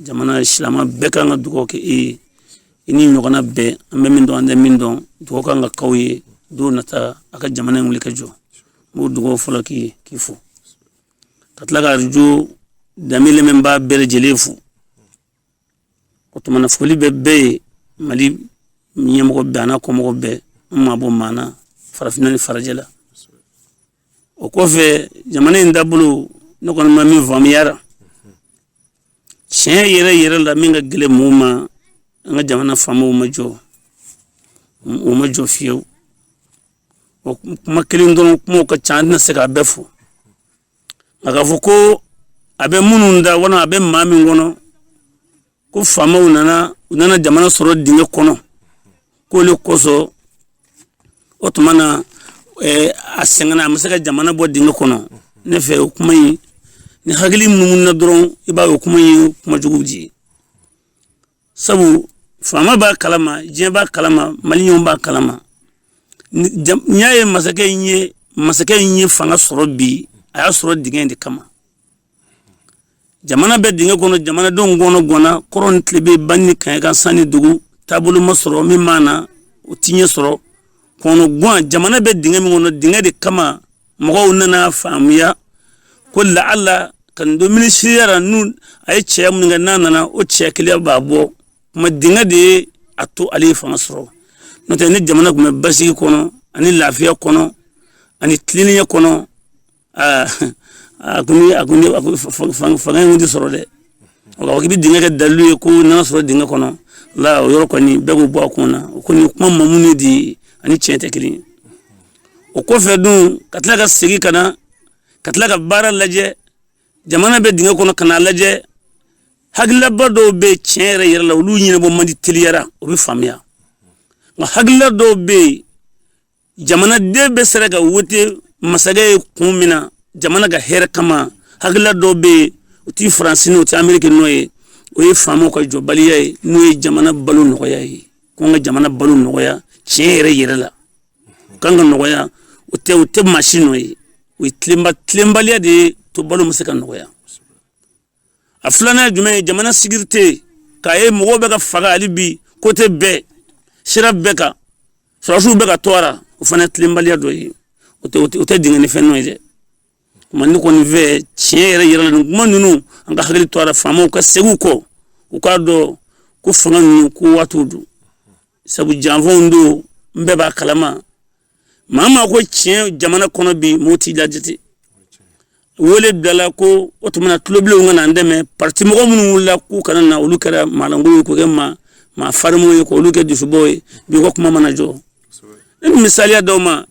jamana silama bɛɛ kan ka dugawu kɛ e ye i ni ɲɔgɔnna bɛɛ an bɛ min dɔn an tɛ min dɔn dugawu kan ka k'aw ye don nata a ka jamana in wuli ka jɔ n b'o dugawu fɔlɔ k'i ye k'i fo ka tila ka arajo danbe lamɛnbaa bɛɛ lajɛlen fo o tuma na foli bɛ bɛɛ ye mali ɲɛmɔgɔ bɛɛ an'a kɔmɔgɔ bɛɛ n ma bɔ maa na farafinna ni farajɛ la o kɔfɛ jamana in taabolo ne kɔni ma min faamuya a ra tiɲɛ yɛrɛ yɛrɛ la min ka gɛlɛn mɔgɔw ma an ka jamana faamaw ma jɔ u ma jɔ fiyewu o kuma kelen dɔrɔn kumaw ka ca an tɛna se k'a bɛɛ fɔ nka k'a fɔ ko a bɛ minnu da walima a bɛ maa min kɔnɔ ko faamaw nana u nana jamana sɔrɔ dingɛ kɔnɔ k'o le kosɔn o tuma na eh, a sɛgɛnna a ma se ka jamana bɔ dingɛ kɔnɔ ne fɛ o kuma in ni hakili munumununa dɔrɔn i b'a ye o kuma in ye kuma jugu de ye sabu faama b'a kalama diɲɛ b'a kalama maliyɛnw b'a kalama Ni- jam- n'i y'a ye masakɛ in ye masakɛ in ye fanga sɔrɔ bi a y'a sɔrɔ dingɛ in de kama jamana bɛ dingɛ kɔnɔ jamanadenw kɔnɔganna kɔrɔn tilebin ba ni kaɲaka san ni dugu taabolo ma sɔrɔ min ma na o tiɲɛ sɔrɔ kɔnɔgan jamana bɛ dingɛ min kɔnɔ dingɛ de kama mɔgɔw nana faamuya ko laala ka nin don minisiriya ra n'u a ye cɛ minnu kɛ n'a nana o cɛ kelen b'a bɔ kuma dingɛ de ye a to ale ye fanga sɔrɔ n'o tɛ ni jamana tun bɛ basigi kɔnɔ ani lafiya kɔnɔ ani tilennenya kɔnɔ aa a ko ni a ko ni a ko fa- fa- fa- fanga in tɛ sɔrɔ dɛ o ka fɔ k'i bɛ dingɛ kɛ dalilu ye ko n'a sɔrɔ dingɛ kɔnɔ la o yɔrɔ kɔni bɛɛ k'o bɔ a kun na o kɔni kuma mamu ne de ye ani tiɲɛ tɛ kelen ye o kɔfɛ dun ka tila ka segin ka na ka tila ka baara lajɛ jamana bɛ dingɛ kɔnɔ ka n'a lajɛ hakililaba dɔw bɛ yen tiɲɛ yɛrɛ yɛrɛ la olu ɲɛnabɔ man di teliya la o bɛ faamuya nka hakilila dɔw bɛ yen jamanaden bɛɛ sera ka wote masakɛ ye kun min na jamana ka hɛrɛ kama hakilila dɔw bɛ yen o tɛ faransi nɔ o tɛ ameriki nɔ ye o ye faamaw ka jɔbaliya ye n'o ye jamana balo nɔgɔya ye ko n ka jamana balo nɔgɔya tiɲɛ yɛrɛ yɛrɛ la u kan ka nɔgɔya o tɛ o tɛ maa si nɔ ye o ye tilenba tilenbaliya de y'a to balo ma se ka nɔgɔya a filanan jumɛn ye jamana sekirite k'a ye mɔgɔw bɛ ka faga hali bi kote bɛɛ sira bɛɛ kan sɔrɔsiw bɛ ka tɔɔrɔ o fana ye tilenbaliya dɔ ye o tɛ o tɛ dingɛ ni fɛn nɔ ye dɛ kuma ne kɔni fɛ tiɲɛ yɛrɛ yɛrɛ la nin kuma ninnu an ka hakili to a la faamaw ka segin u kɔ u k'a dɔn ko fanga ninnu ko waatiw don sabu janfaw don an bɛɛ b'a kalama maa maa ko tiɲɛ jamana kɔnɔ bi mɔgɔ t'i lajate wele bilala ko o tuma na tulobilenw ka na an dɛmɛ parti mɔgɔ minnu wulila k'u kana na olu kɛra maalankolon ye k'o kɛ maa maa farimaw ye k'olu kɛ dusubɔw ye bi ko kuma mana jɔ ne bɛ misaliya d'aw ma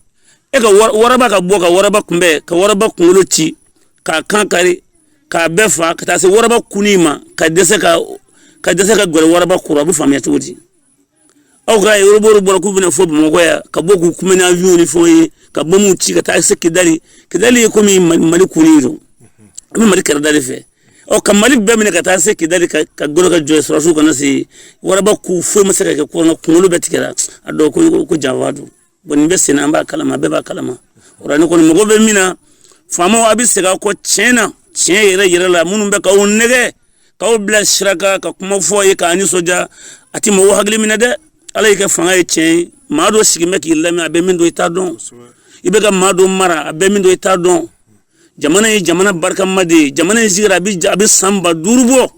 e ka waraba ka bɔ ka waraba kunbɛn ka waraba kunkolo ci k'a kan kari k'a bɛɛ fa ka taa se waraba kuni ma ka dɛsɛ ka ka dɛsɛ ka gɛrɛ waraba kɔrɔ a bɛ faamuya cogo di aw ka yoroboro bɔra k'u bɛna fo bamakɔ yan ka bɔ k'u kunbɛn n'awiyɔn ni fɛnw ye ka bɔmu ci ka taa se kidali kidali ye komi mali kuni don a bɛ mali kɛrɛda de fɛ ɔ ka mali bɛɛ minɛ ka taa se kidali ka ka golo ka jɔ sɔrɔsiw kana se waraba ku foyi ma se ka kɛ kɔnɔ kunkolo bɛɛ tigɛra a dɔw ko ko janfa don bon nin bɛ sen na an b'a kalama bɛɛ b'a kalama o la ne kɔni mago bɛ min na faamaw a bɛ segin aw kɔ tiɲɛ na tiɲɛ yɛrɛ yɛrɛ la minnu bɛ k'aw nɛgɛn k'aw bila sira kan ka kuma fɔ aw ye k'aw nisɔndiya a tɛ mɔgɔw hakili minɛ dɛ ala y'i kɛ fanga ye tiɲɛ ye maa dɔ sigin bɛ k'i lamɛn a bɛ min dɔn i t'a dɔn i bɛ ka maa dɔ mara a bɛ min dɔn i t'a dɔn jamana ye jamana barikama de ye jamana in sigira a bɛ san ba duuru bɔ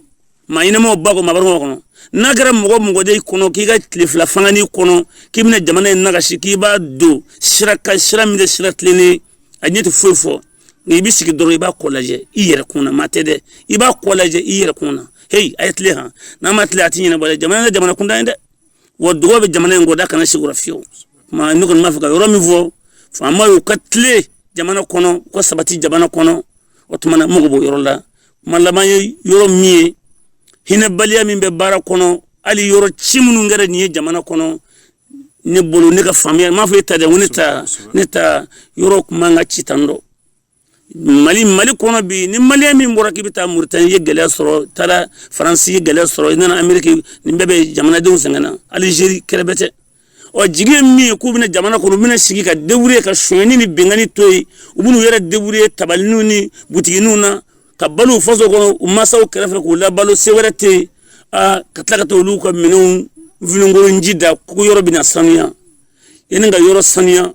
maa ɲɛnamaw b'a kɔnɔ maa barikamaw kɔnɔ n'a kɛra mɔgɔ mɔgɔ de kɔnɔ k'i ka tile fila fangani kɔnɔ k'i bɛna jamana in nagasi k'i b'a don sira kan sira min tɛ sira tilennen a ɲɛ tɛ foyi fɔ nka i bɛ sigi dɔrɔn i b'a kɔ lajɛ i yɛrɛ kun na maa tɛ dɛ i b'a kɔ lajɛ i yɛrɛ kun na heyi a ye tilen han n'a ma tilen a tɛ ɲɛnabɔ dɛ jamana tɛ jamana kuntan ye dɛ wa dugaw bɛ jamana in kɔ dɛ a kana siga o la fiyewu tuma ne kɔni b'a fɛ ka yɔrɔ min fɔ faamaw y'u ka tilen jamana kɔnɔ u ka sabati jamana kɔnɔ o tuma na mago b'o yɔrɔ la kuma laban ye yɔrɔ min ye hinɛbaliya min bɛ baara kɔnɔ hali yɔrɔ ci minnu kɛra nin ye jamana kɔnɔ ne bolo ne ka faamuya m'a fɔ e ta dɛ ko ne ta ne ta yɔrɔ kun man ka ci tan dɛ mali mali kɔnɔ bi ni maliyɛn min bɔra k'i bɛ taa muritani ye gɛlɛya sɔrɔ taara faransi ye gɛlɛya sɔrɔ i nana ameriki nin bɛɛ bɛ jamanadenw sɛgɛn na alizeri kɛrɛbɛtɛ u jigi ye min ye k'u bɛ na jamana kɔnɔ u bɛna sigi ka deburiye ka sonyani ni bɛnkanni to yen u bɛn'u yɛrɛ deburiye tabaliniw ni butigininw na ka balo u faso kɔnɔ u mansaw kɛrɛfɛ k'u labalo se wɛrɛ tɛ yen ka tila ka taa olu ka minɛnw vinenkolo ji da ko yɔrɔ bɛna sanuya yanni ka yɔrɔ sanuya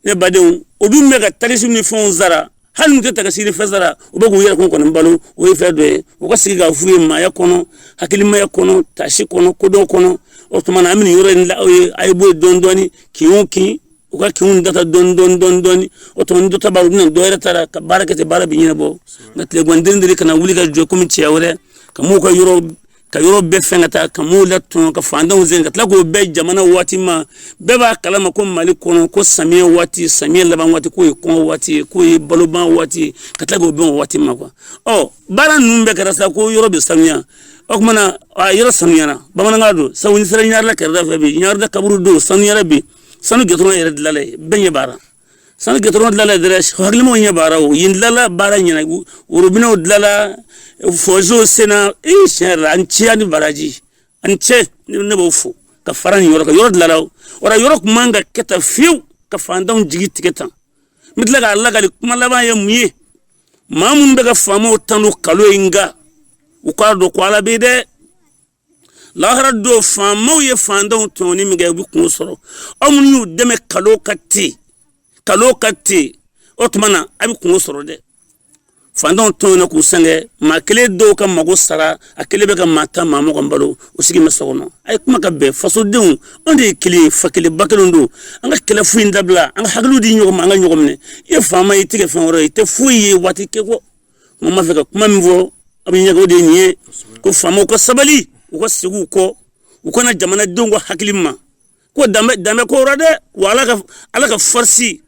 ne badenw u dun bɛ ka takisiw ni fɛnw sara hali n'u tɛ takisi ni fɛn sara u bɛ k'u yɛrɛ kun kɔni balo o ye fɛn dɔ ye u ka sigi k'a f'u ye maaya kɔnɔ hakilimaya kɔnɔ taasi kɔnɔ kodɔn kɔnɔ o tuma na an bɛ yɔrɔ in la aw ye a ye bɔ yen dɔɔni dɔɔni kin o kin u ka kinw data dɔɔni dɔɔni dɔɔni dɔɔni o tuma ni dɔ ta banna u bɛ na dɔ wɛrɛ ta la ka baara kɛ ten baara bɛ ɲɛnabɔ nka tilegan den de kana wuli ka jɔ komi cɛ wɛrɛ ka mɔgɔw ka yɔrɔ ka yɔrɔ bɛɛ fɛn ka taa ka mɔgɔw latɔɲɔ ka fantanw sɛgɛn ka tila k'o bɛn jamana waati ma bɛɛ b'a kalama ko mali kɔnɔ ko samiyɛ waati samiyɛ laban waati k'o ye kɔngɔ waati ye k'o ye baloban waati ye ka tila k'o bɛn o waati ma kuwa ɔ baara ninnu bɛɛ kɛra sa ko yɔrɔ bɛ sanuya o tuma na a yɔrɔ sanuyara bamanankan don sabu n'i sera ɲarela kɛrɛda fɛ bi ɲarela kaburudo sanuyara bi sanu gɛtɔrɔ yɛrɛ dilanla yen bɛɛ ɲɛ b'a la sani gɛtɔrɔn dilanla dɛrɛ hakilimaw ɲɛ b'a la yen dilanla baara ɲɛna worobinɛw dilanla fɔzo senna e tiɲɛ yɛrɛ la aw ni ce aw ni baraji aw ni ce ne b'u fo ka fara nin yɔrɔ kan yɔrɔ dilanla o wala yɔrɔ kun man ka kɛ tan fewu ka fantanw jigi tigɛ tan n bɛ tila k'a lakali kuma laban ye mun ye maa minnu bɛ ka faamaw tanu kalon ye nka u k'a dɔn ko ala bɛ dɛ lahara don faamaw ye fantanw tɔɲɔni min kɛ u bɛ kunko sɔrɔ aw minnu y'u dɛmɛ kalon kan ten kalon kan ten o tuma na a bɛ kunko sɔrɔ dɛ fantanw tɔɲɔna k'u sɛgɛn maa kelen dɔw ka mago sara a kelen bɛ ka maa tan maa mugan balo o sigi bɛ so kɔnɔ a ye kuma ka bɛn fasodenw anw de ye kelen ye fa kelen ba kelen don an ka kɛlɛ foyi in dabila an ka hakiliw di ɲɔgɔn ma an ka ɲɔgɔn minɛ i ye faama ye i tɛ kɛ fɛn wɛrɛ ye i tɛ foyi ye waatikɛ kɔ n b'a fɛ ka kuma min fɔ a bɛ ɲɛgɛn de nin ye ko faamaw ka sabali u ka segin kɔ u ka na jamanadenw ka hakili ma ko danbe danbe ko yɔrɔ dɛ wa ala ka ala ka fɔrisi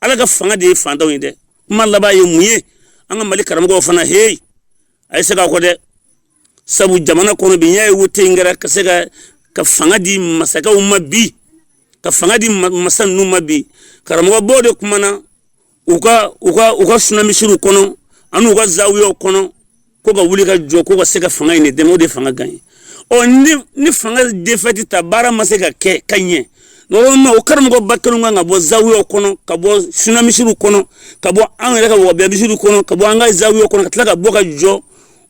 ala ka fanga de ye fantanw ye dɛ kuma laban ye mun ye an ka mali karamɔgɔw fana heyi a ye segin kɔ dɛ sabu jamana kɔnɔ bi n'i y'a ye wote in kɛra ka se ka ka fanga di masakɛw ma bi ka fanga di masa ninnu ma bi karamɔgɔbaw de kumana u ka u ka u ka sunamisiriw kɔnɔ ani u ka zawiyaw kɔnɔ ko ka wuli ka jɔ ko ka se ka fanga in de dɛmɛ o de fanga gan ye ɔ ni ni fanga defɛti ta baara ma se ka kɛ ka ɲɛ normalement o karamɔgɔba kelen kan ka bɔ zawiyaw kɔnɔ ka bɔ sunamisiriw kɔnɔ ka bɔ an yɛrɛ ka wabiyamisiriw kɔnɔ ka bɔ an ka zawiyaw kɔnɔ ka tila ka bɔ ka jɔ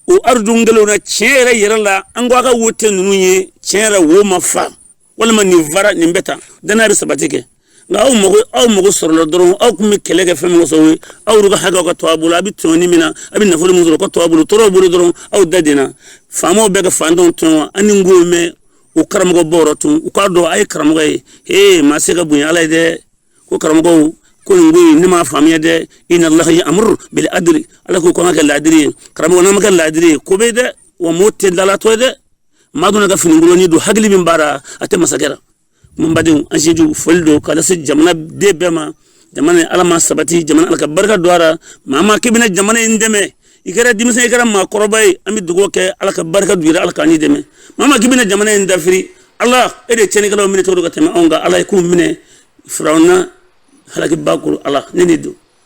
o aridun kelen na tiɲɛ yɛrɛ yɛrɛ la an ko a ka wote ninnu ye tiɲɛ yɛrɛ wo ma fa walima nin fara nin bɛ tan danaya bɛ sabati kɛ nka aw mago aw mago sɔrɔla dɔrɔn aw tun bɛ kɛlɛ kɛ fɛn min kosɔn ye aw yɛrɛ ka hakɛw ka to a bolo a bɛ tɔɲɔni min na a bɛ nafolo min sɔrɔ ka to a bolo tɔɔrɔw bolo dɔrɔn aw da den na faamaw bɛ ka fantanw tɔɲɔ wa an ni n ko mɛn o karamɔgɔ bɔ yɔrɔ tun u k'a dɔn a ye karamɔgɔ ye ee maa se ka bonya ala ye dɛ ko karamɔgɔw ko nin ko in ne m'a faamuya dɛ inna allaha ya'muru bil adli ala ko k'an ka kɛ laadiri ye karamɔgɔ n'an ma kɛ laadiri ye ko bɛ dɛ wa mɔɔ tɛ dalatɔ ye dɛ maa donna ka finikoloni don hakili min b'a ra a tɛ masakɛ la ko n badenw an sinju foli don ka lase jamana den bɛɛ ma jamana ala ma sabati jamana ala ka barika don a ra maa min k'i bɛna jamana in dɛmɛ i kɛra denmisɛn i kɛra maakɔrɔba ye an bɛ dugawu kɛ ala ka barika don i la ala k'an dɛmɛ maa min k'i bɛna jamana in dafiri ala e de cɛnnikɛlaw minɛ cogo ka tɛmɛ anw kan ala e k'u minɛ firawuna halakiba ko ala ne de don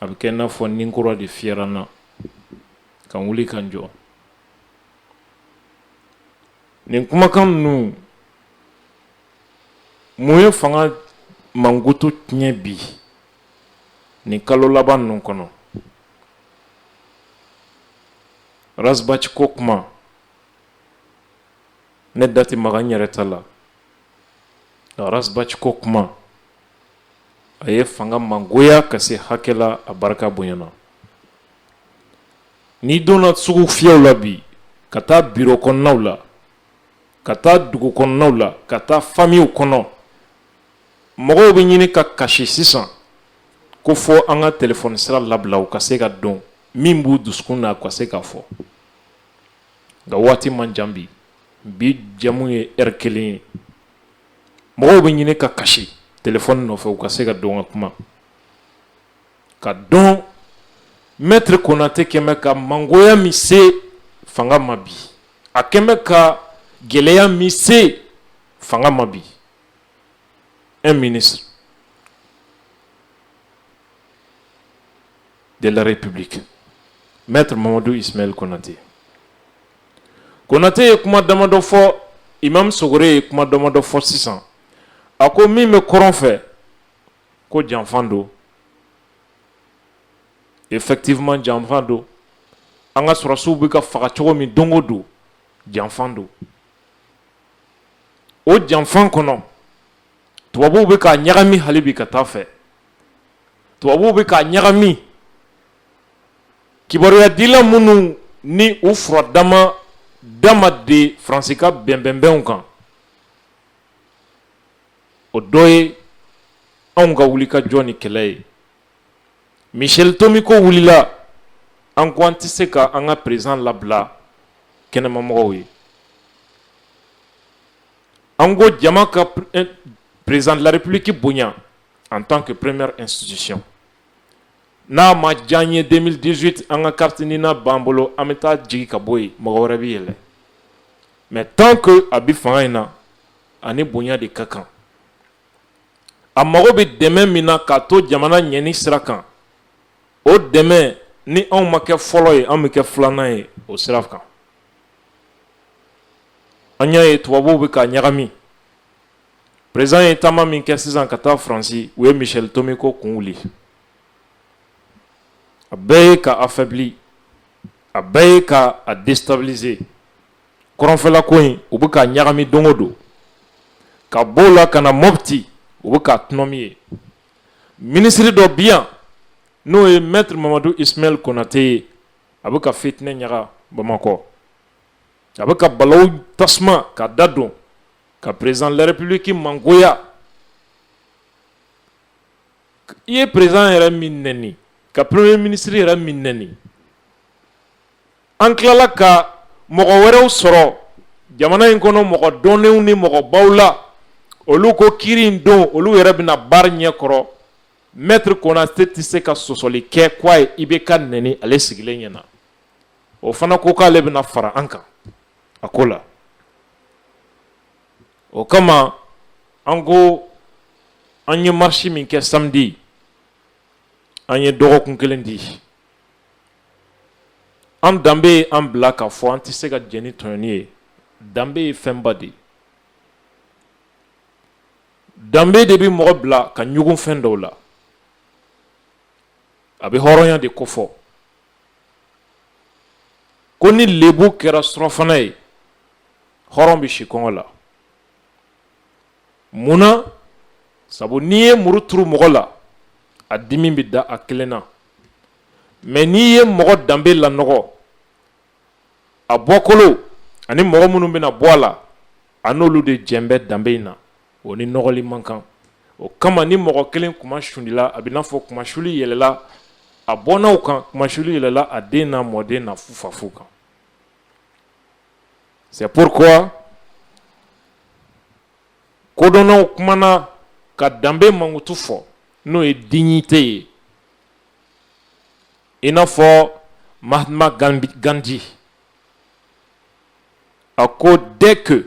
a bɛ kɛ i n'a fɔ ni kura de fiyɛra n na ka n wuli ka n jɔ nin kumakan ninnu mun ye fanga mankutu tiɲɛ bi nin kalo laban ninnu kɔnɔ rasbati ko kuma ne da ti maga n yɛrɛ ta la rasbati ko kuma a ye fanga mangoya ka se hakɛ la a barika bonyana n'i donna sugu fiyɛw la bi ka taa biro kɔnɔnaw la ka taa dugu kɔnɔnaw la ka taa famiw kɔnɔ mɔgɔw bɛ ɲini ka kasi sisan ko fɔ an ka telefɔni sira labila u ka se ka don min b'u dusukun na ka se k'a fɔ nka waati man jan bi bi jɛmu ye ɛri kelen ye mɔgɔw bɛ ɲini ka kasi telefɔni nɔfɛ u ka se ka don ka kuma ka dɔn mɛtiri konatɛ kɛmɛ ka mangoya min se fanga ma bi a kɛmɛ ka gɛlɛya min se fanga ma bi un ministre de la république mɛtiri mamadu ismaɛli konatɛ Konatɛ ye kuma damadɔ fɔ imamu Sogore ye kuma damadɔ fɔ sisan a ko min bɛ kɔrɔn fɛ ko janfan don effectivement janfan don an ka sɔrɔsiw bɛ ka faga cogo min don o don janfan don o janfan kɔnɔ tubabuw bɛ k'a ɲagami hali bi ka taa fɛ tubabuw bɛ k'a ɲagami Kibaruya dila minnu ni u fura dama dama de Faransi ka bɛnbɛnbɛnw kan o dɔ ye anw ka wuli ka jɔ ni kɛlɛ ye Michel Tomi ko wulila an ko an tɛ se ka an ka président labila kɛnɛmamɔgɔw ye an ko jama ka président de la République bonya en tant que première institution N'a ma diya an ye deux mille dix-huit an ka carte NINA b'an bolo an bɛ taa jigin ka bɔ yen mɔgɔ wɛrɛ bɛ yɛlɛ mais tant que a bɛ fanga in na a ni bonya de ka kan a mago bɛ dɛmɛ min na k'a to jamana ɲɛni sira kan o dɛmɛ ni anw ma kɛ fɔlɔ ye an bɛ kɛ filanan ye o sira kan an y'a ye tubabuw bɛ k'a ɲagami Président ye taama min kɛ sisan ka taa faransi u ye Michel Tomi ko kun wuli a bɛɛ ye ka affaibli a bɛɛ ye ka a déstabiliser kɔrɔnfɛla ko in u bɛ k'a ɲagami don o don ka bɔ o la ka na Mopti u bɛ k'a tunun min ye minisiri dɔ bi yan n'o ye maître Mamadou Ismaël Konatɛ ye a bɛ ka fitinɛ ɲaga bamakɔ a bɛ ka balawu tasuma ka da don ka président de la République mangoya i ye président yɛrɛ min neni ka premier ministre yɛrɛ min neni an tilala ka mɔgɔ wɛrɛw sɔrɔ jamana in kɔnɔ mɔgɔ dɔnnenw ni mɔgɔbaw la olu ko kiiri in don olu yɛrɛ bɛna baara ɲɛ kɔrɔ maître Konatɛ tɛ se ka sɔsɔli kɛ k'a ye IBK neni ale sigilen ɲɛ na o fana ko k'ale bɛna fara an kan a ko la o kama an ko an ye marisi min kɛ samedi an ye dɔgɔkun kelen di an danbe ye an bila k'a fɔ an tɛ se ka jɛn ni tɔɲɔni ye danbe ye fɛnba de ye danbe de bɛ mɔgɔ bila ka ɲugun fɛn dɔw la a bɛ hɔrɔnya de kofɔ ko ni lebu kɛra surɔfana ye hɔrɔn bɛ si kɔngɔ la munna sabu n'i ye muru turu mɔgɔ la a dimi bɛ da a kelen na mais n'i ye mɔgɔ danbe lanɔgɔ a bɔkolo ani mɔgɔ minnu bɛna bɔ a la a n'olu de jɛ bɛ danbe in na o ni nɔgɔli man kan o kama ni mɔgɔ kelen kunma suulila a b'i n'a fɔ kunmasuuli yɛlɛla a bɔnnaw kan kunmasuuli yɛlɛla a den n'a mɔden n'a fufafu kan c'est pourquoi kodɔnnaw kumana ka danbe mankutu fɔ n'o ye dignité ye i n'a fɔ Mahatma Gandhi a ko dès que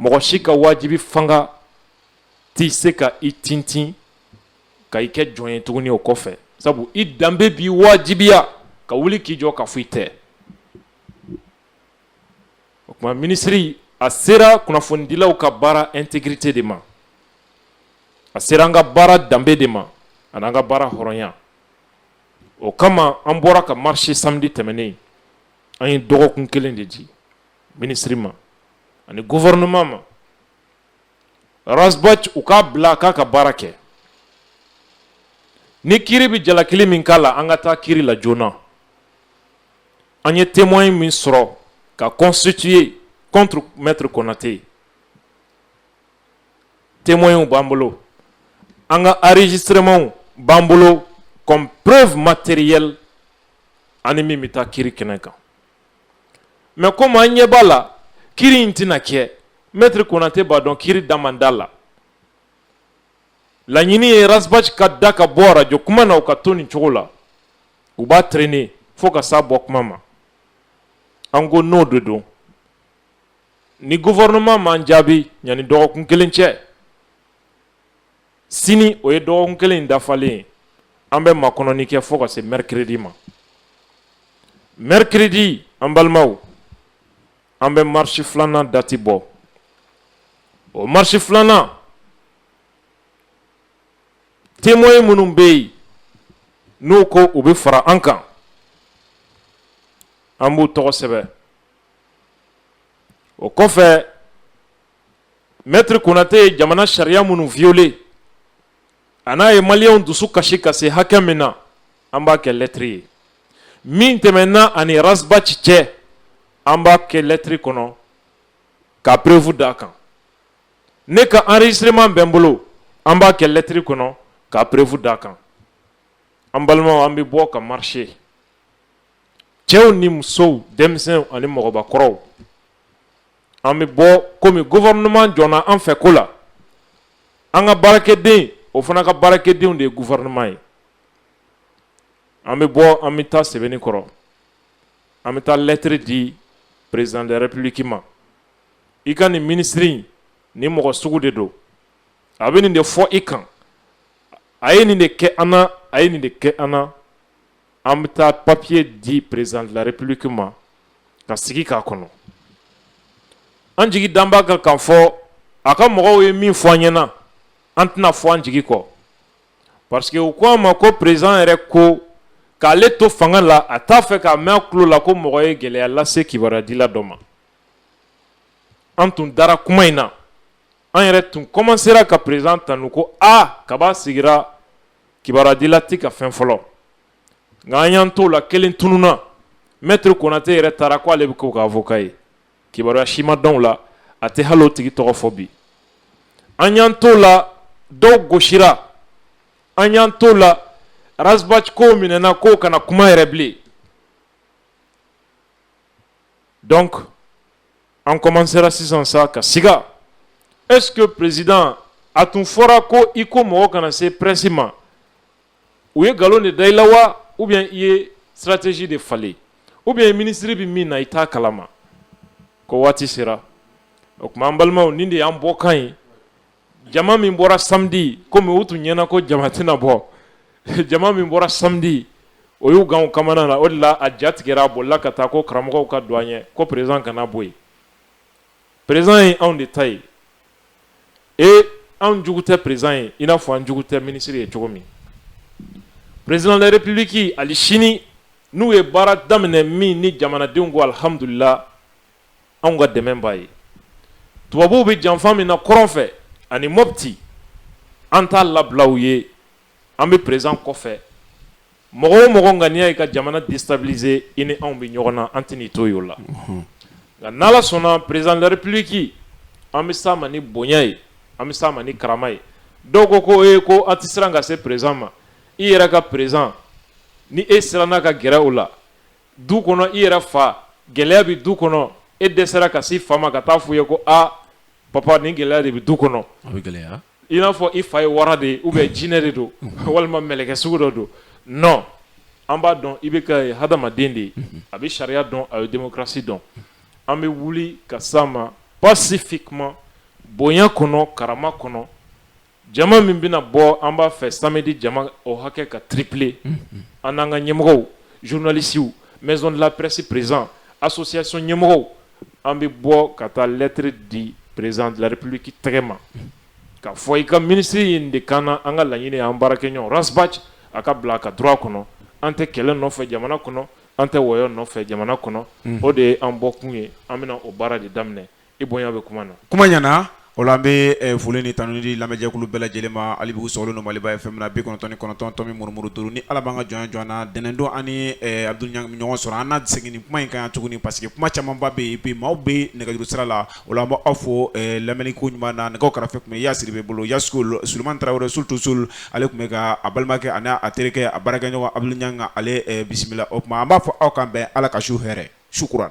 mɔgɔ si ka wajibi fanga tɛ se ka i tintin ka i kɛ jɔn ye tuguni o kɔfɛ sabu i danbe b'i wajibiya ka wuli k'i jɔ k'a fɔ i tɛ o tuma minisiri a sera kunnafonidilaw ka baara intégrité de ma a sera an ka baara danbe de ma ani an ka baara hɔrɔnya o kama an bɔra ka marcher samedi tɛmɛnen an ye dɔgɔkun kelen de di minisiri ma ani gouvernement ma Ras Bath u k'a bila k'a ka baara kɛ ni kiri bɛ jalakili min k'a la an ka taa kiri la joona an ye témoin min sɔrɔ ka constituer contre maître Konate témoin b'an bolo an ka enregistrementw b'an bolo comme preuve matérielle ani min bɛ taa kiri kɛnɛ kan mais comme an ɲɛ b'a la kiri in tɛna kɛ maître Konate b'a dɔn kiri da man d'a la laɲini ye Ras Bath ka da ka bɔ arajo kuma na u k'a to nin cogo la u b'a traîner fo ka sa bɔ kuma ma an ko n'o de don ni gouvernement m'an jaabi ɲani dɔgɔkun kelen cɛ sini o ye dɔgɔkun kelen dafalen ye an bɛ makɔnɔni kɛ fo ka se mercredi ma mercredi an balimaw an bɛ marche filanan dati bɔ o marche filanan témoin minnu bɛ yen n'u ko u bɛ fara an kan an b'u tɔgɔ sɛbɛn o kɔfɛ Maitre Konate ye jamana sariya minnu violer a n'a ye maliyɛnw dusu kasi ka se hakɛ min na an b'a kɛ lɛtiri ye min tɛmɛnna a ni Ras Bath cɛ an b'a kɛ lɛtiri kɔnɔ ka preuve d'a kan ne ka enregistrement bɛ n bolo an b'a kɛ lɛtiri kɔnɔ ka preuve d'a kan an balimaw an bɛ bɔ ka marcher cɛw ni musow denmisɛnw ani mɔgɔbakɔrɔw an bɛ bɔ kɔmi gouvernement jɔnna an fɛ ko la an ka baarakɛden o fana ka baarakɛdenw de ye gouvernement ye an bɛ bɔ an bɛ taa Sebeninkɔrɔ an bɛ taa lɛtiri di président de la république ma i ka nin minisiri nin mɔgɔ sugu de don a bɛ nin de fɔ i kan a ye nin de kɛ an na a ye nin de kɛ an an bɛ taa papiye di président de la république ma ka sigi k'a kɔnɔ an jigi dalen b'a kan k'a fɔ a ka mɔgɔw ye min fɔ an ɲɛna an tɛna fɔ an jigi kɔ parce que u ko an ma ko président yɛrɛ ko k'ale to fanga la a t'a fɛ k'a mɛn a tulo la ko mɔgɔ ye gɛlɛya lase kibaruyadila dɔ ma an tun dara kuma in na an yɛrɛ tun kɔmansera ka président tanu ko a kab'a sigira kibaruyadila tɛ ka fɛn fɔlɔ nka an y'an t'o la kelen tununna mɛtiri Konate yɛrɛ taara ko ale bɛ k'o ka avocat ye kibaruya si ma dɔn o la a tɛ hali o tigi tɔgɔ fɔ bi an y'an t'o la dɔw gosira an y'an t'o la Ras Bath ko minɛna k'o kana kuma yɛrɛ bilen donc An kɔmansera sisan sa ka siga est-ce que président a tun fɔra ko i ko mɔgɔ kana se presse ma u ye nkalon de da i la wa ou bien i ye stratégie de falen ou bien minisiri bɛ min na i t'a kalama ko waati sera o tuma an balimaw nin de y'an bɔ kan ye jama min bɔra samedi komi u tun ɲɛna ko jama tɛna bɔ jama min bɔra samedi o y'u gan kamana na o de la a ja tigɛra a bolila ka taa ko karamɔgɔw ka don an ɲɛ ko président kana bɔ yen président ye anw de ta ye e anw jugu tɛ président ye i n'a fɔ an jugu tɛ minisiri ye cogo min président de la république ali sini n'u ye baara daminɛ min ni jamanadenw ko alihamudulila anw ka dɛmɛ b'a ye tubabuw bɛ janfa min na kɔrɔn fɛ ani Mɔpti an t'a labila u ye an bɛ président kɔfɛ mɔgɔ o mɔgɔ ŋaniya ye ka jamana déstabiliser i ni anw bɛ ɲɔgɔn na an tɛ n'i to yen o la nka n'Ala sɔnna président de la république an bɛ s'a ma ni bonya ye an bɛ s'a ma ni karama ye dɔw ko ko e ko an tɛ siran ka se président ma i yɛrɛ ka président ni e siranna ka gɛrɛ o la du kɔnɔ i yɛrɛ fa gɛlɛya bɛ du kɔnɔ e dɛsɛra ka s'i fa ma ka taa f'u ye ko aa papa nin gɛlɛya de bɛ du kɔnɔ gɛlɛya i n'a fɔ i fa ye wara de ye ou bien jinɛ de don walima mɛlɛkɛ sugu dɔ don non an b'a dɔn IBK ye hadamaden de ye a bɛ sariya dɔn a bɛ démocratie dɔn an bɛ wuli ka s'a ma pacifiquement bonya kɔnɔ karama kɔnɔ jama min bɛna bɔ an b'a fɛ samedi jama o hakɛ ka tripler an n'an ka ɲɛmɔgɔw journalistes maison de la presse président association ɲɛmɔgɔw an bɛ bɔ ka taa lettre di président de la république tɛgɛ ma k'a fɔ i ka ministre ye nin de k'an na an ka laɲini y'an baarakɛɲɔgɔn Ras Bath a ka bila a ka droit kɔnɔ an tɛ kɛlɛ nɔfɛ jamana kɔnɔ an tɛ wɔyɔ nɔfɛ jamana kɔnɔ o de ye an bɔkun ye an bɛna o baara de daminɛ i bonya bɛ kuma na kuma ɲɛna o la an bɛ eh, foli ni tanu di lamɛnjɛkulu bɛɛ lajɛlen ma hali bi u sɔgɔlen don Maliba FM na bi kɔnɔntɔn kɔnɔntɔn tomi murumuru duuru ni ala b'an ka jɔnya jɔn na ntɛnɛndon an ni eh, Abdoul Niang ɲɔgɔn sɔrɔ an na segin nin kuma in kan yan tuguni parce que kuma camanba bɛ yen bi maaw bɛ nɛgɛjuru sira la o la an b' aw fo eh, lamɛnniko ɲuman na nɛgɛ karafe tun bɛ Yasiri bɛ bolo ya Suleman Tarawele Soul to Soul ale tun bɛ ka a balimakɛ ani a terikɛ a baarakɛɲɔgɔn Abdoul Niang ale bisimila o tuma an b'a fɔ aw k'an bɛn ala ka su hɛrɛ sukura